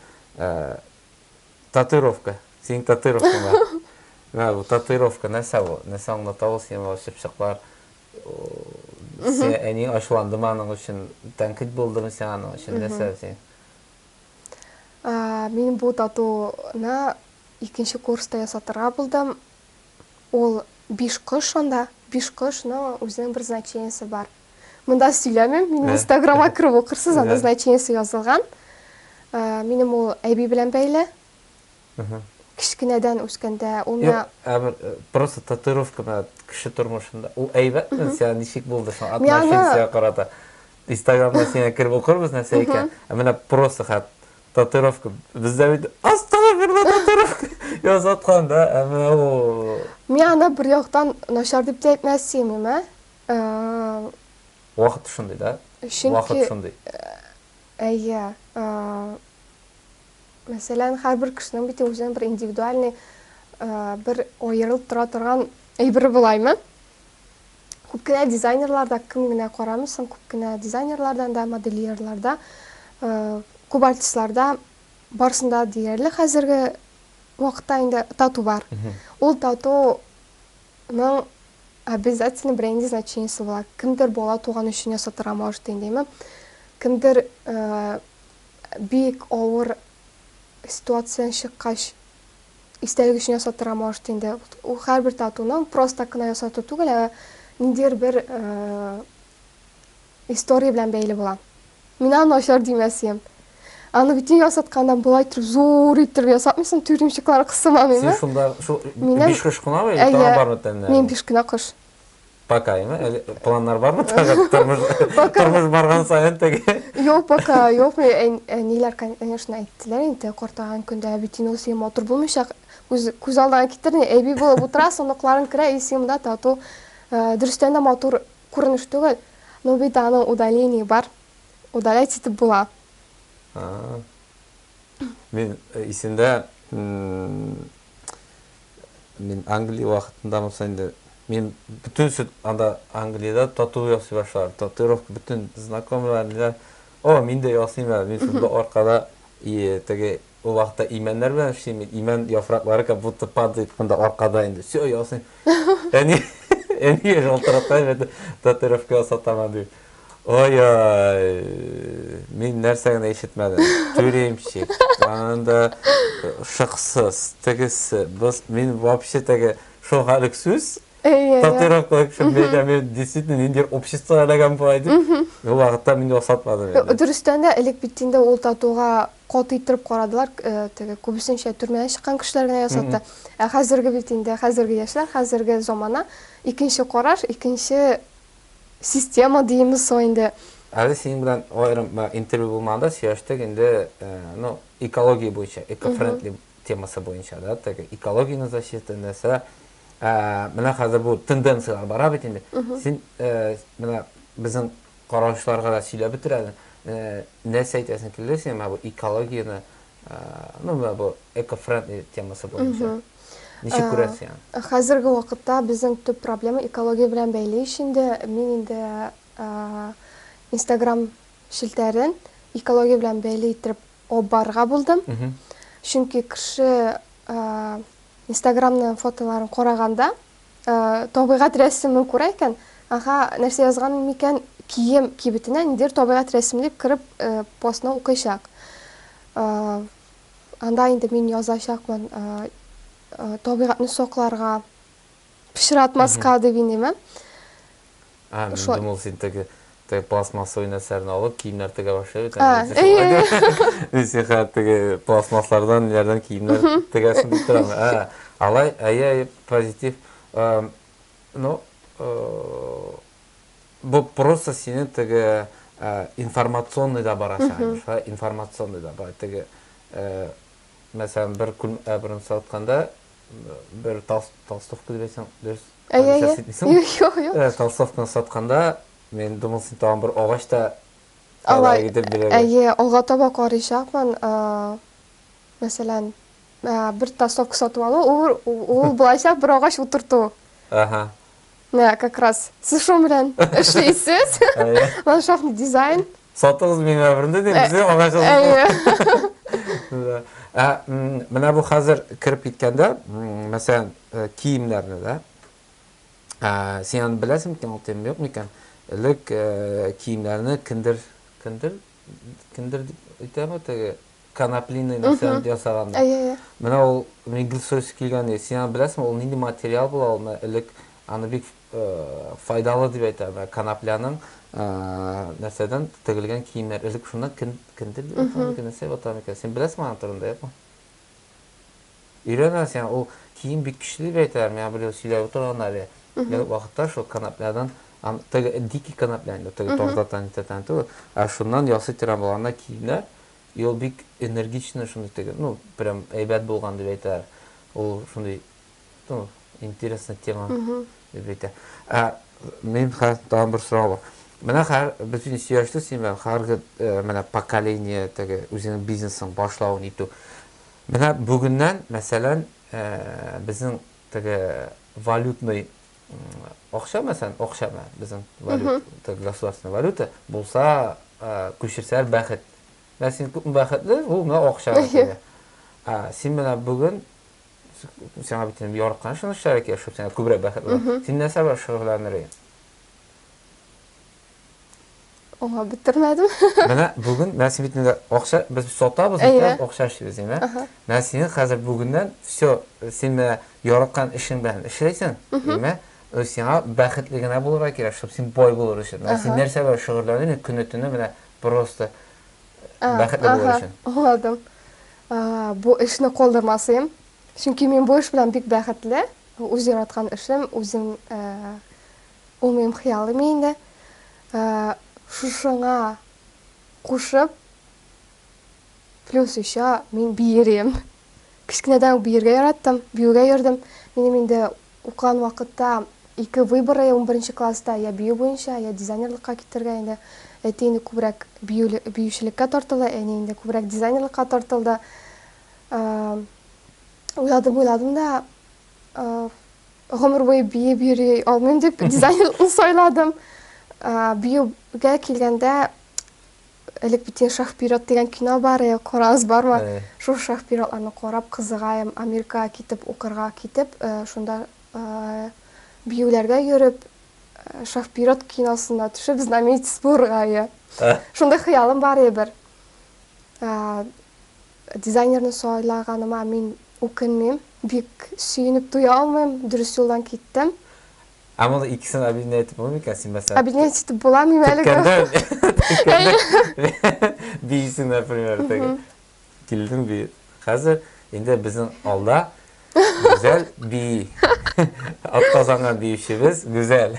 Татуировка. Синең татуировкаң бар. Менә бу татуировка нәрсә бу? Нәрсә аңлата ул сиңа ул чыпчыклар? Сиңа әниең ачуландымы аның өчен? Тәнкыйть булдымы сиңа аның өчен? Нәрсә син? Мин бу татуны Икенче курста ясатырга булдым. Ул биш кош анда, биш кош, но үзенең бер значениесе бар. Монда сөйләмим, минем инстаграмга кереп укырсыз, анда значениесе язылган. Минем ул әби белән бәйле. Кечкенәдән үскәндә ул миңа... Ә бер просто татуировка менә кеше тормышында. Ул әйбәтме сиңа, ничек булды соң отношение сиңа карата? Инстаграмга сиңа кереп укырбыз нәрсә икән. Ә менә просто хәт. Татуировка. Бездә бит астагыфирла татуировка ясаткан да, ә менә ул. Мин аны бер яктан начар дип тә әйтмәс симим, ә? Вакыт шундый да? Чөнки Вакыт шундый. Әйе. Мәсәлән, һәрбер кешенең бит үзенең бер индивидуальный бер аерылып тора торган әйбере булаймы? Күп кенә дизайнерлар да, кем генә карамый соң, күп кенә дизайнерлардан да, модельерлар да, күп артистлар да, барысында диярлек хәзерге вакытта инде тату бар. Ул татуның обязательно бренди значениесе була. Кемдер бала туган өчен ясатырга может индеме? Кемдер бик авыр ситуациян чыккач, истәлек өчен ясатырга может инде. Ул һәрбер татуны просто так кына ясату түгел, ә ниндидер бер история белән бәйле була. Мин аны начар димәс идем. Аны бит нигә ясатканда болай итеп зур итеп ясатмыйсың, тюремщиклар кысымамыймы? Син шунда шул биш кыш кына бит, тагын бармы тәннәр? Мин биш кына кыш. Пока яме, әле планнар бармы тагын тормыш Пока. тормыш барган саен теге? Юк, пока, юк. Мен- ән- Әниләр, конечно, әйттеләр инде, картайган көндә әби тиң ул син матур булмыйчак. Үз күз алдына китер, ни, әби булып утырасың, оныкларың керә, и син монда тату. Э, Дөрестән дә матур күренеш түгел. Но бит аның удаление бар. Удалять итеп була. А. Мин э, исемдә м, Мин Англия вакытында булса инде, мин бөтен сөт анда Англиядә тату ясый башладым. Татуировка бөтен знакомыйлар, ниләр, О, мин дә ясыйм әле, мин шундый аркада и теге ул вакытта имәннәр белән эшлим, имән яфраклары как будто падает монда аркада инде. Все ясыйм. Әни, әни шалтыратам инде татуировка ясатам дип. Ой-ой, мин нәрсә генә ишетмәдем. Түремчик, аннан да шыксыз, тегесе, быз, мин вообще теге шул халык сүз, татуировкалар кешем бәйтә, мин действительно нинди общество эләгәм болай дип, ул вакытта мин ясатмадым инде. Дөрестән дә, элек бит инде ул татуга каты иттереп карадылар, теге күбесенчә төрмәдән чыккан кешеләр генә ясатты. Ә хәзерге бит инде, хәзерге яшьләр, хәзерге замана, икенче караш, икенче Система диеме соң инде. Әле синең белән аерым интервью булмаганда сөйләштек инде, ну, экология буенча, экофрендли темасы буенча, да, теге экологияне защита нәрсә. Ә, менә хәзер бу тенденцияләр бара бит инде. Син менә безнең караучыларга да сөйләп бетер әле, нәрсә әйтәсең килде сиңа бу экологияне, ну, менә бу экофрендли темасы буенча? Ничек күрәсең син аны? Хәзерге вакытта безнең төп проблема экология белән бәйле ич инде. Мин инде Instagram челтәрен экология белән бәйле иттереп алып барырга булдым. Чөнки кеше Instagramның фотоларын караганда табигать рәсемен күрә икән, ага, нәрсә язган микән кием кибетенә ниндидер табигать рәсеме дип кереп постны укыйчак. Анда инде мин язачакмын, табигатьне сакларга, пычратмаска дип инеме. Ә, мин думал, син теге пластмассовый нәрсәләрне алып, киемнәр тегә башлый бит. Мин сиңа теге пластмасслардан, ниләрдән киемнәр тегәсен дип торам. Ә, алай, әйе, әйе, позитив. Ну, Бу просто синең теге информационный да бар ашаган шулай информационный да бар теге мәсәлән бер күл әбрен сатканда бер тас толстовка дип әйтсәң дөрес әйе толстовканы сатканда мен думал син тагын бер агач та алай итеп бирә әйе алга таба карыйчакмын мәсәлән бер толстовка сатып алу ул ул былайча бер агач утырту ага Менә как раз сушым белән эшлисез. Ландшафтный дизайн. Сатыгыз минем әверенде дип безгә агач алып. Ә менә бу хәзер кереп киткәндә, мәсәлән, киемнәрне дә син аны беләсең микән, ул тема юк микән? Элек киемнәрне киндер, киндер кемдер дип әйтәме теге коноплиный нәрсәне ясаган менә ул мебельсойс килгән син аны беләсеңме ул нинди материал була ул элек аны бик э, файдалы дип әйтә менә конопляның э, нәрсәдән тегелгән киемнәр элек шуннан кендер дип атамы нәрсә атамы икән син беләсеңме аның турында юкмы Өйрәнәсең, ул кием бик көчле дип әйтәләр, миңа берәү сөйләп утырган әле. Бер вакытта шул канапләдан, теге дикий канаплә инде, теге тартатан, нитатан түгел, ә шуннан ясый торган баланнар киемнәр, и ул бик энергичный шундый теге, ну, прям әйбәт булган дип әйтәләр. Ул шундый, ну, интересный тема дип әйтә. Ә мин хәзер тагын бер сорау бар. Менә хәзер без инде сөйләштек синең белән, хәзерге менә поколение теге үзеңнең бизнесың башлавын итү. Менә бүгеннән, мәсәлән, безнең теге валютный акча, мәсәлән, акчаны безнең валют, теге государственная валюта булса, күчерсәләр бәхет. Менә син күпме бәхетле, ул менә акча әйтә. Ә син менә бүген сиңа бит яраткан шуны эшләргә кирәк, чтобы сиңа күбрәк бәхет булса. Син нәрсә белән шөгыльләнер идең? Оңа бетермәдем. Менә бүген менә син бит инде акча без сатабыз бит, акча эшлибез дим, ә? Менә син хәзер бүгеннән все, син менә яраткан эшең белән эшләйсең, димме? Сиңа бәхетле генә булырга кирәк, чтобы син бай булыр өчен. Менә син нәрсә белән шөгыльләнәсең, мин көне-төне менә просто бәхетле булыр өчен. Аңладым. Бу эшне калдырмасым. Чөнки мин бу эш белән бик бәхетле. Үз яраткан эшем, үзем Ул минем хыялым инде. Шушыңа кушып, плюс еще мин биерем. Кечкенәдән үк биергә яраттым, биюгә йөрдем. Минем инде укыган вакытта ике выбор, унберенче класста я бию буенча, я дизайнерлыкка китәргә инде. Әти инде күбрәк биючелеккә тартылды, әни инде күбрәк дизайнерлыкка тартылды. Уйладым-уйладым да, Гомер буе биеп йөри алмыйм дип дизайнер сайладым. Биюгә килгәндә элек бит инде шах-пират дигән кино бар, э, карагыз бармы? Э. Шул шах-пиратларны карап кызыгаем, Америкага китеп укырга китеп, э, шунда э, биюләргә йөреп, э, шах-пират киносына төшеп знаменитость булырга. Э. Шунда хыялым бар иде бер. Дизайнерны сайлаганыма мин үкенмим. Бик сөенеп туя алмыйм, дөрес юлдан киттем. Ә моны икесен объединять итеп булмый микән? Син мәсәлән. Объединять итеп була, мин әле. Төрткәндә биисең, например, теге. Килдең биеп. Хәзер инде безнең алда Гүзәл би. Атказанган биючебез Гүзәл.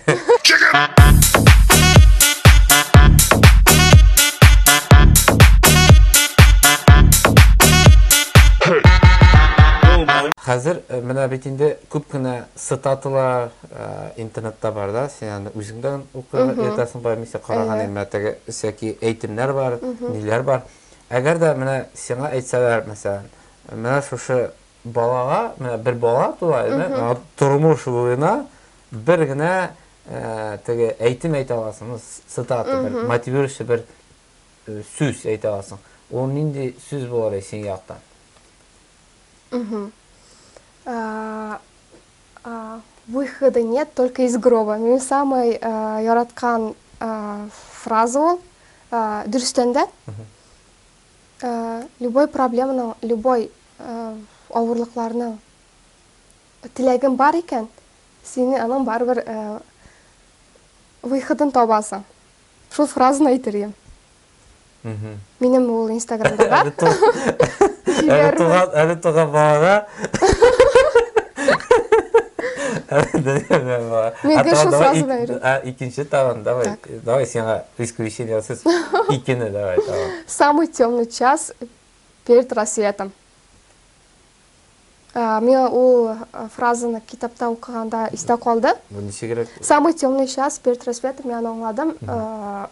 Хәзер э, менә бит инде күп кенә цитаталар э, интернетта бар да, син аны үзеңдән укып ятасың бай мисә караган имә теге сәки әйтемнәр бар, ниләр бар. Әгәр дә менә сиңа әйтсәләр, мәсәлән, менә шушы балага, менә бер бала тула иде, тормыш буена бер генә теге әйтем әйтә аласың, цитата бер, мотивирующий бер сүз әйтә аласың. Ул нинди сүз булыр иде синең яктан? Выхода нет, только из гроба. Минем самый яраткан фраза ул. Дөрестән дә, Любой проблеманың, любой авырлыкларның теләген бар икән, сине аның барыбер выходын табасың. Шул фразаны әйтер идем. Минем ул инстаграмда бар. Әле туган, әле туган балага. Әле дәгән бала. Мин гел шул фразаны әйтәм. Икенче тагын, давай. Давай сиңа исключениесыз икене давай, давай. Самый темный час перед рассветом. Миңа ул фразаны китапта укыганда истә калды. Бу ничегрәк? Самый темный час перед рассветом мин аны аңладым.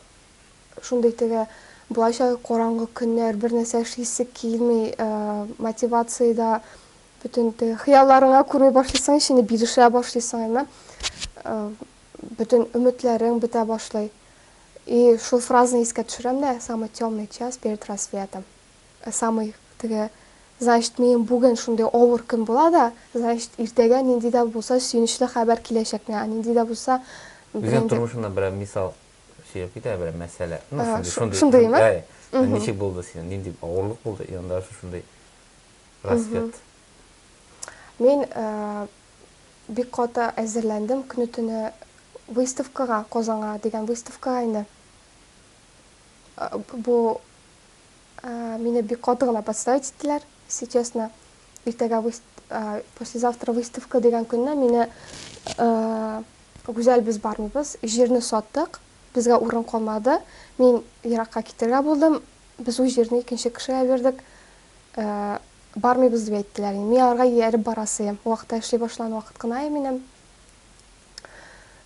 Шундый теге булача караңгы көннәр, бер нәрсә эшлисе килми, мотивация да бөтен теге хыялларыңа күрми башлыйсың, ичине бирешә башлыйсың, әйме? Бөтен өметләрең бетә башлый. И шул фразаны искә төшерәм дә, самый тёмный час перед рассветом. Самый теге, значит, минем бүген шундый авыр көн була да, значит, иртәгә нинди дә булса сөенечле хәбәр киләчәк миңа, нинди дә булса бер Үзең инде. тормышыңнан берәр мисал сөйләп кит әле, берәр мәсьәлә. Ну, Ага, шундый, шу- шундый, шундыймы? әй, Мгм. ничек булды синең, нинди авырлык булды, и анда шушындый рассвет. Мин э, бик каты әзерләндем көне-төне выставкага, Казанга дигән выставкага инде. Бу мине бик каты гына подставить иттеләр, если честно. Иртәгә послезавтра выставка дигән көнне мине Гүзәл без бармыйбыз, җирне саттык, безгә урын калмады, мин еракка китәргә булдым, без ул җирне икенче кешегә бирдек. бармыйбыз дип әйттеләр. Мин аларга ияреп бара сыем. Вакытта эшли башлаган вакыт кына иде минем.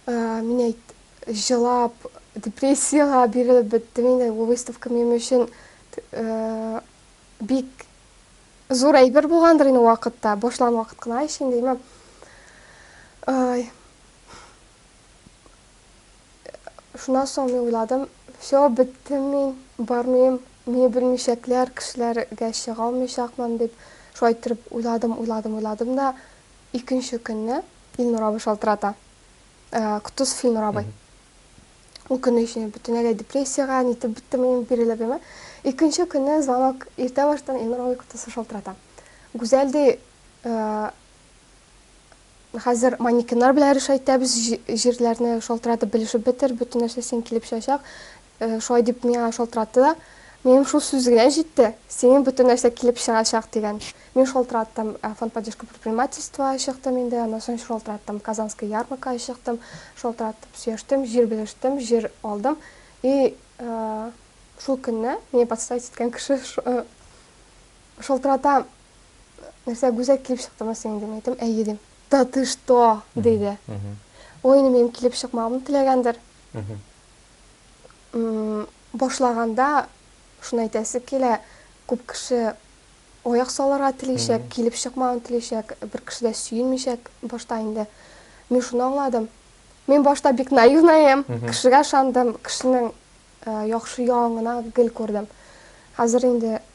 Мин әйт, җылап, депрессиягә бирелеп беттем инде. Бу выставка минем өчен бик зур әйбер булгандыр инде вакытта. Башлаган вакыт кына ич инде, имам. Ай. Шуннан соң мин уйладым, Всё, беттем мин, бармыйм, мине белмичәкләр, кешеләргә чыга алмыйчакмын, дип, шулай иттереп уйладым, уйладым, уйладым да, икенче көнне Илнур абый шалтырата. Котдус Филнур абый. Ул көнне өчен мин бөтенләй депрессиягә, нитеп беттем мин, бирелеп яме. Икенче көнне звонок иртә баштан Илнур абый котдусы шалтырата. Гүзәл, ди, Хәзер манекеннар белән решайтәбез, җирләрне шалтыратып белешеп бетер, бөтен нәрсә синең килеп чыгачак. Шулай дип миңа шалтыратты да. Минем шул сүз генә җитте, синең бөтен нәрсә килеп чыгачак дигән. Мин шалтыраттым, Фонд поддержки предпринимательства чыктым инде, аннан соң шалтыраттым, Казанская ярмарка чыктым, шалтыратып сөяштем, җир белештем, җир алдым. И шул көнне мине подставить иткән кеше Шалтырата, нәрсә, гүзәк килеп чыктымы синең, дим әйтем, әйе дим. Да ты что, диде. Ой, инде минем килеп чыкмавымны теләгәндер. Башлаганда шуны әйтәсе килә, күп кеше аяк салырга телишәк, килеп чыкмавын телишәк, бер кеше дә сөенмичәк башта инде. Мин шуны аңладым. Мин башта бик наивнаем, кешегә ышандым, кешенең яхшы ягын гына гел күрдем. Хәзер инде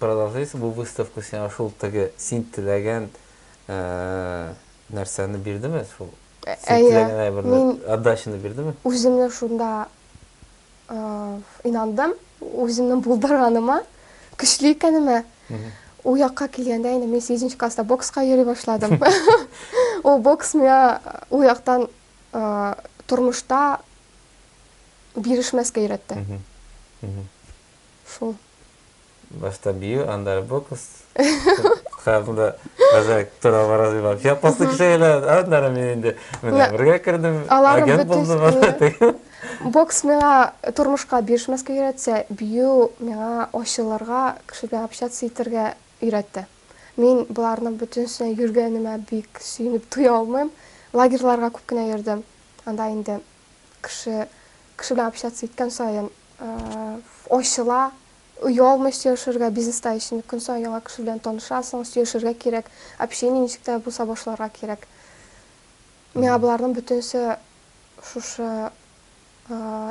Продолжайся бу выставка сиңа шул теге син теләгән нәрсәне бирдеме шул син теләгән әйберне отдачаны бирдеме? Үземне шунда инандым үземнең булдырганыма көчле икәнемә ул якка килгәндә инде мин сигезенче класста бокска йөри башладым ул бокс миңа ул яктан тормышта бирешмәскә өйрәтте шул башта бию, аннары бокс. Кызымда бәзәк тора бара дип алып. Япасы кешеләр, аннары мин инде менә бергә кердем. Агент булдым. Бокс миңа тормышка бирешмәскә өйрәтсә, бию миңа ачылырга, кеше белән общаться итәргә өйрәтте. Мин боларның бөтенесенә йөргәнемә бик сөенеп туя алмыйм. Лагерьларга күп кенә йөрдем. Анда инде кеше кеше белән общаться иткән саен ачыла, оялмый сөйләшергә, бизнеста өчен көн саен яңа кеше белән танышасың, сөйләшергә кирәк, общение ничек тә булса башларга кирәк. Миңа боларның бөтенесе шушы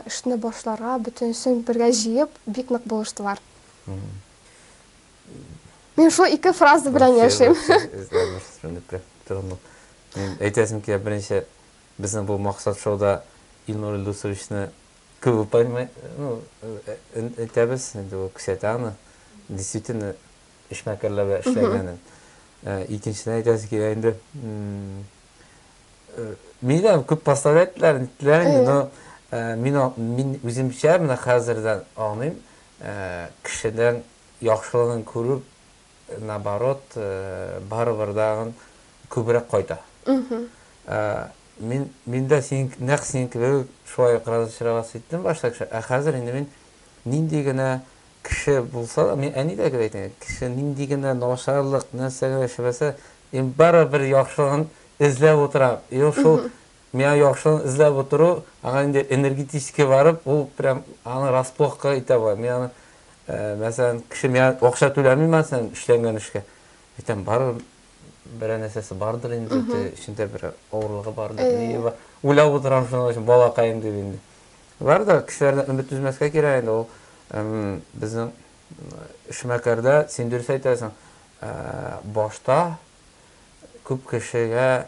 эшне башларга бөтенесен бергә җыеп бик нык булыштылар. Мин шул ике фраза белән яшим. Әйтәсем килә, беренче Безнең бу максат шоуда Илнур Илдусовичны күп упоминать, ну, әйтәбез, инде ул күрсәтә аны, действительно эшмәкәрләргә эшләгәнен. Икенчедән әйтәсе килә инде, мине дә күп поставлять иттеләр, ниттеләр инде, но мин мин үземчә менә хәзердән аңлыйм, кешедән яхшылыгын күрү наоборот, барыбер тагын күбрәк кайта. Мин, мин дә синең, нәкъ синең кебек үк шулай ук разочароваться иттем башта кеше, ә хәзер инде мин нинди генә кеше булса да, мин әнидәгә әйтәм, кеше нинди генә начарлык нәрсә генә эшләмәсә, мин барыбер яхшылыгын эзләп утырам. И шул Миңа яхшыны эзләп утыру, аңа инде энергетически барып, ул прям аны расплохка итә була. Мин аны, мәсәлән, кеше миңа акча түләми, мәсәлән, эшләнгән эшкә. Әйтәм, барыбер берәр нәрсәсе бардыр инде, теге эчендә берәр авырлыгы бардыр, ние бар. Уйлап утырам шуның өчен, балакаем дип инде. Бар да, кешеләрдән өмет өзмәскә кирәк инде, ул безнең эшмәкәрдә, син дөрес әйтәсең, башта күп кешегә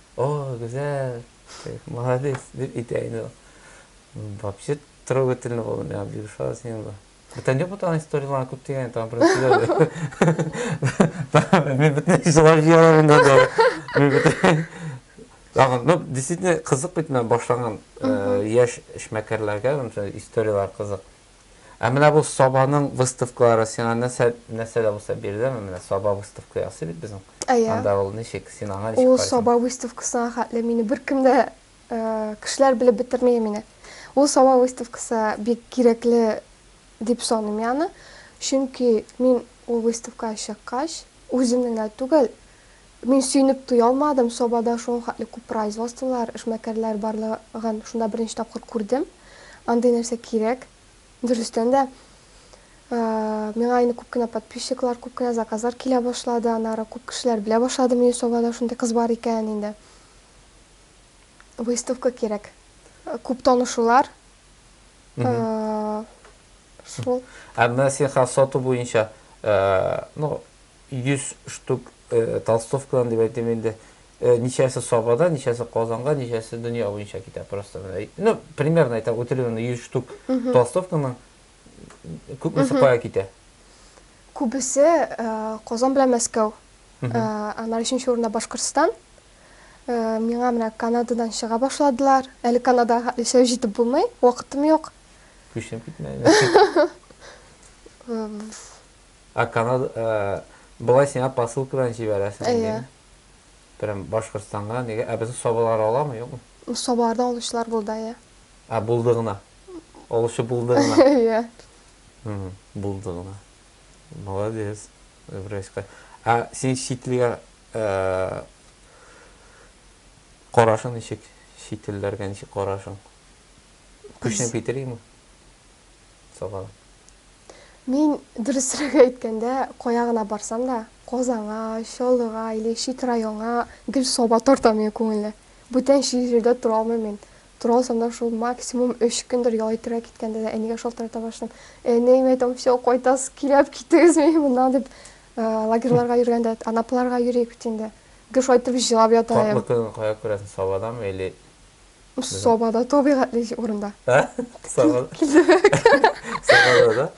О, гүзәл! Молодец! дип әйтә инде ул. Вообще трогательный булды миңа бик ошады синең бу. Бүтән юк бит аның историяларын күп дигән тагын бераз сөйләде. Мин бөтен җылап җибәрәм инде дә. Мин бөтен Тагын, ну, действительно кызык бит менә башлаган яшь эшмәкәрләргә мондый историялар кызык. Ә менә бу Сабаның выставкалары сиңа нәрсә, нәрсә дә булса биреләме? Менә Саба выставка ясый бит безнең. Әйе. Анда ул ничек, син аңа ничек Ул карыйсың? Саба выставкасына хәтле мине беркем дә, э, кешеләр белеп бетерми мине. Ул Саба выставкасы бик кирәкле дип саныйм мин аны. Чөнки мин ул выставкага чыккач, үземнең генә түгел, Мин сөенеп туя алмадым, Сабада шул хәтле күп производстволар, эшмәкәрләр барлыгын шунда беренче тапкыр күрдем. Андый нәрсә кирәк. Дөрестән дә, миңа инде күп кенә подписчиклар, күп кенә заказлар килә башлады, аннары күп кешеләр белә башлады мине, Сабада шундый кыз бар икәнен инде. Выставка кирәк. Күп танышулар. Шул. Ә менә син хәзер сату буенча, ну, 100 штук толстовкадан дип әйтим инде. Ничәсе Сабада, ничәсе Казанга, ничәсе дөнья буенча китә просто. Ну, примерно әйтәм, үтелгән 100 штук толстовканың күпмесе кая китә? Күбесе Казан белән Мәскәү. Аннары өченче урында Башкортстан. Миңа менә Канададан чыга башладылар. Әле Канадага яшәү җитеп булмый, вакытым юк. Күченеп китмә. Ә Канада, болай сиңа посылка белән җибәрәсең инде. Прям Башкортстанга, нигә? Ә безнең Сабалар аламы, юкмы? Сабалардан алучылар булды, әйе. Ә булды гына. Алучы булды гына. Әйе. Булды гына. Молодец. Враська. Ә син читлегә карашың ничек? Чит телләргә ничек карашың? Күченеп китер идеңме? Сабан. Мин, дөресрәге әйткәндә, кая гына барсам да, Казанга, Чаллыга или чит районга гел саба тарта мине күңелне. Бүтән җирдә тора алмыйм мин. Тора алсам да шул максимум өч көндер ял итәргә киткәндә дә әнигә шалтырата башлыйм. Әни, мин әйтәм, все, кайтасыз, киләп китегез мине моннан дип. Лагерьларга йөргәндә, Анапаларга йөри бит инде. Гел шулай итеп җылап ята идем. Татлы кызны кая күрәсең, сабадамы или Саба да табигатьле урында. Ә? Саба. Саба да, да?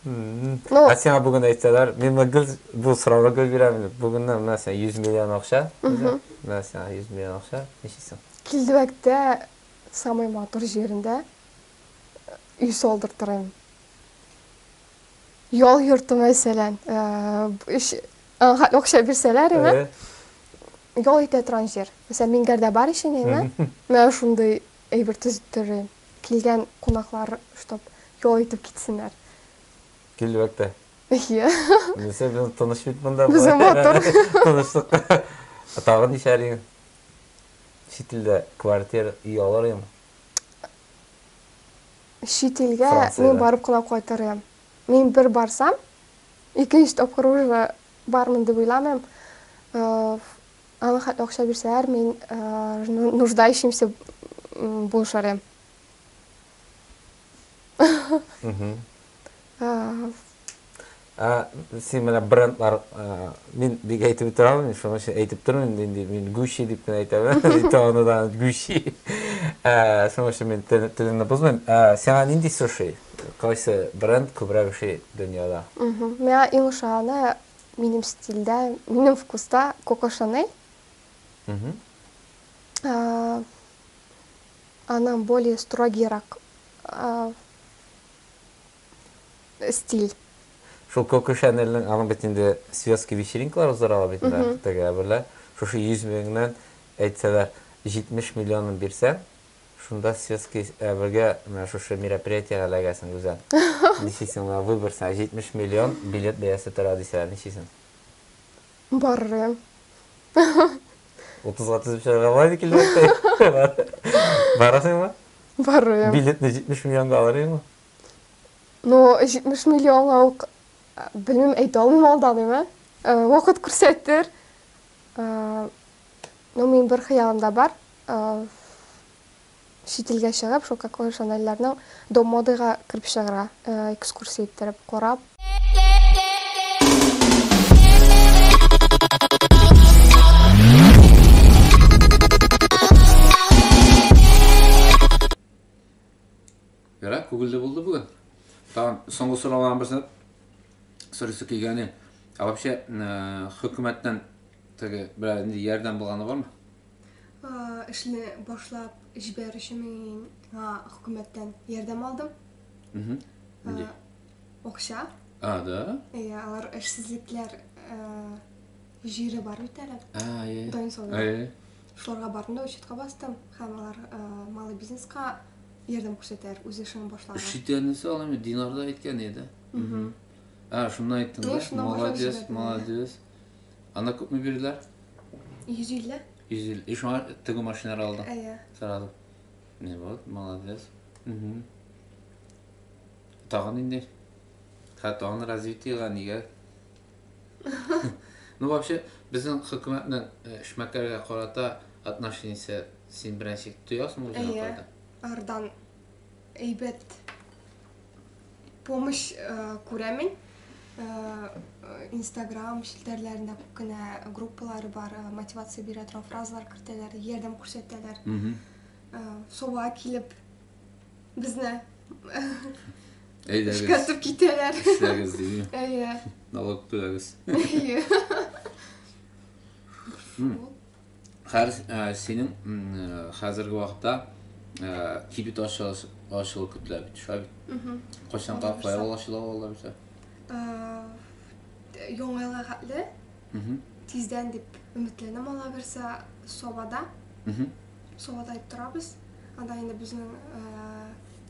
Ну, а сиңа бүген әйтсәләр, мин менә гел бу сорауга гел бирәм. Бүгеннән менә сиңа 100 миллион акча. Менә сиңа 100 миллион акча. Ничисең? Килдебәктә самый матур җирендә өй салдыртырым. Ял йортым мәсәлән, өч аңга акча бирсәләр, әйе. Ял итә торган җир. Мәсәлән, Мингәрдә бар ич инде, әйеме? Менә шундый әйбер төзеттерим. Килгән кунаклар, чтоб ял итеп китсеннәр. Килерләк тә. Әйе. Минемчә, без тыныч бит монда. Безнең матур. Тынычлыкта. Тагын нишләр? Чит илдә квартир, өй алыр идеме? Чит илгә мин барып кына кайтыр идем. Мин бер барсам, икенче тапкыр уже Бармын дип уйламыйм. Аңа хәтле акча бирсәләр, мин нуждающимся булышыр идем. Син менә брендлар, мин бик әйтеп бетерә алмыйм, шуның өчен әйтеп тормыйм инде, мин Gucci дип кенә әйтәм, әйтә аны да Gucci. Шуның өчен мин телеңне бозмыйм. Сиңа нинди суши? Кайсы бренд күбрәк эшли дөньяда? Миңа иң ошаганы, минем стильдә, минем вкуста, Коко Шанель. Аның более строгиерак стиль. Шул Коко Шанельнең, аның бит инде светский вечеринкалар уздыра ала бит инде Октябрьдә. Шушы 100 меңнән, әйтсәләр, 70 миллионын бирсәң, Шунда светский әвергә менә шушы мероприятиегә эләгәсең, Гүзәл. Ничисең, менә выбор сиңа, 70 миллион билет бәясе тора дисәләр, ничисең? Барырым. Утызга тезеп чыгарга була инде килмәгәндәй. Барасыңмы? Барырым. Билетны 70 миллионга алыр идеңме? Ну, 70 миллионга ук, белмим, әйтә алмыйм алдан, әйме? Вакыт күрсәтер. Ну, минем бер хыялым да бар. Аф. Чит илгә чыгып, шул Кокло Шанельләрнең Дом модега кереп чыгыра, экскурсия иттереп, карап. Ярар, күгелде булды бүген. Тагын соңгы сорауга берсе сорысы килгәне. Ә вообще хөкүмәттән теге берәр нинди ярдәм булганы бармы? эшне башлап җибәр өчен мин хөкүмәттән ярдәм алдым. Нинди? Акча. А, да? Иә, алар эшсезлекләр җире бар бит әле. А, иә. Дайын солдат. А, иә. Шуларга бардым да учетка бастым. Һәм алар малый бизнеска ярдәм күрсәтәр, үз эшен башлар. Шитәнесе ул инде динарда әйткән иде. А, шунда әйттем. Молодец, молодец. Анда күпме бирделәр? 150. 150. И шуңа тегү машиналар алдың? Әйе. Сразу. Не вот, молодец. Угу. Тагын инде. Хә, тагын развитиега нигә? Ну вообще, безнең хөкүмәтнең э, эшмәкәргә карата отношениесе син беренче тоясың үзеңә Әйе. карата? Ардан әйбәт. помощь күрә мин инстаграм челтәрләрендә күп кенә группалары бар мотивация бирә торган фразалар кертәләр ярдәм күрсәтәләр суга килеп безне әйдәгез эшкәртеп китәләр эшләгез дими әйе налог түләгез әйе хәр, ә, синең ә, хәзерге вакытта ә, кибет ачылыш, ачылу көтелә бит, шулай бит? Кайчанга файл ачыла алар бит? Яңа елга хәтле тиздән дип өметләнәм ала берсе Совада. Совада итеп торабыз. Анда инде безнең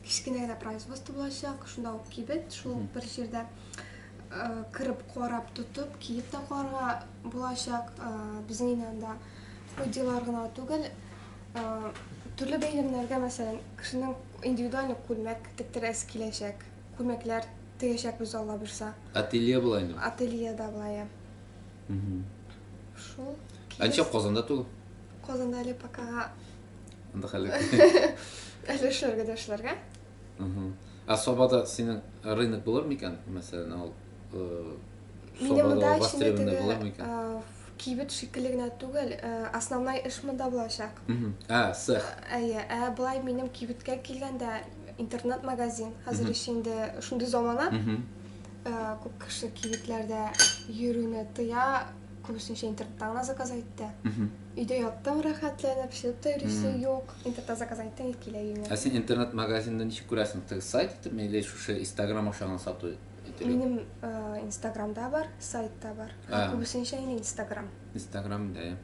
кечкенә генә производство булачак, шунда ук кибет, шул бер җирдә. Кырып, карап, тотып, киеп тә карарга булачак. Безнең өйдә анда ходилар гына түгел, төрле бәйрәмнәргә, мәсәлән, кешенең индивидуаль күлмәк тектерәсе киләчәк. Күлмәкләр тегәчәкбез, Алла бирса. Ателье була инде. Ателье да була, я. Шул. Анча Казанда тулы. Казанда әле пока. Анда хәле. Әле эшләргә дә эшләргә. Ә Сабада синең рынок булыр микән, мәсәлән, ал Сабада востребованный булыр микән? Кибет шикелле генә түгел, основной эш монда булачак. Ә, сэх. Әйе, ә былай минем кибеткә килгәндә интернет-магазин, хәзер еш инде шундый замана. Күп кеше кибетләрдә йөрүне тыя, күбесенчә интернетта гына заказ итә. Өйдә яттың рәхәтләнеп, чыгып та йөрисең юк, интернетта заказ әйттең итеп килә өеңә. Ә син интернет магазинны ничек күрәсең? Теге сайт итепме или шушы инстаграм аша гына сату итеп? Минем инстаграм да бар, сайт та бар. Ә күбесенчә инде инстаграм. Инстаграм да.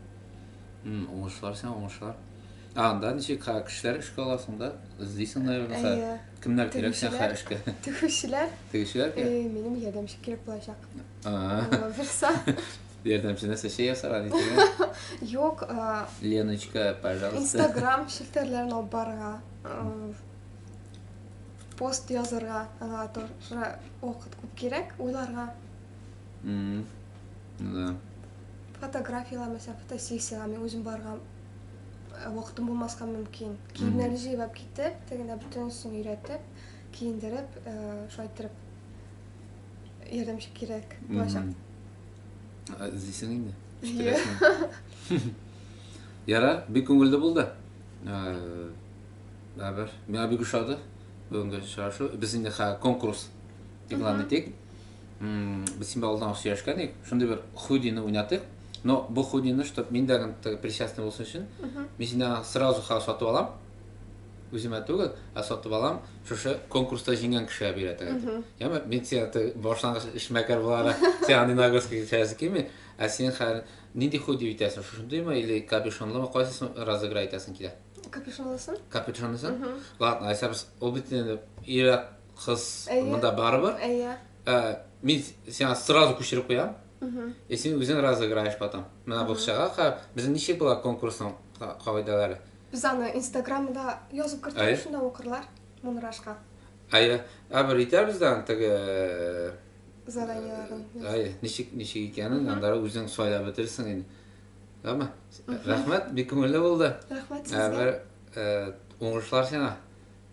Уңышлар сиңа, уңышлар. А анда ничек кешеләр эшкә аласың да? Эзлисең, наверное, кемнәр кирәк сиңа эшкә? Тегүчеләр. Тегүчеләр кирәк. Минем ярдәмче кирәк булачак. Булса. Ярдәмче нәрсә чәй ясарга нитергә? Юк, Леночка, пожалуйста. Инстаграм челтәрләрен алып барырга, пост язырга, аңа тоже вакыт күп кирәк, уйларга. Ну да. Фотографияләр, мәсәлән, фотосессиягә мин үзем барырга вакытым булмаска мөмкин. Киемнәрне җыйнап китеп, тегендә бөтенесен өйрәтеп, киендереп, шулай иттереп ярдәмче кирәк булачак. Ә, Эзлисең инде. Йә. Яра, бик күңелле булды. Ә, Бәбер, миңа бик ошады бүгенге очрашу. Без инде хә конкурс игълан итик. М, Без син алдан ук сөйләшкән идек. Шундый бер худины уйнатыйк. Но бу худины, чтобы мин дә гын теге причастный булсын өчен, мин синнән сразу ха сатып алам. Үземә түгел, ә сатып алам, шушы конкурста җиңгән кешегә бирәтәгә дип. Яме, мин сиңа башлангыч эшмәкәр буларак, сиңа андый нагрузка кичерәсе килми, ә син хәл нинди худи үтәсең, шушындыймы или капюшонлымы, кайсысын разыграй итәсең килә? Капюшонлысын. Капюшонлысын? Ладно, айсабыз, ул бит инде ирак кыз монда барыбер. Әйе. Ә, мин сиңа сразу күчереп куям. И син үзең разыграешь потом. Менә бу чага, безнең ничек була конкурсның кагыйдәләре? Без аны инстаграмда язып кертәбез, шунда укырлар Мунрашка. Әйе, ә бер итәбез дә теге э, заданиеләрен. Әйе, ничек ничек икәнен анда үзең сайлап бетерсең инде. Әмма рәхмәт, бик күңелле булды. Рәхмәт э, сезгә. Бер э, уңышлар сиңа.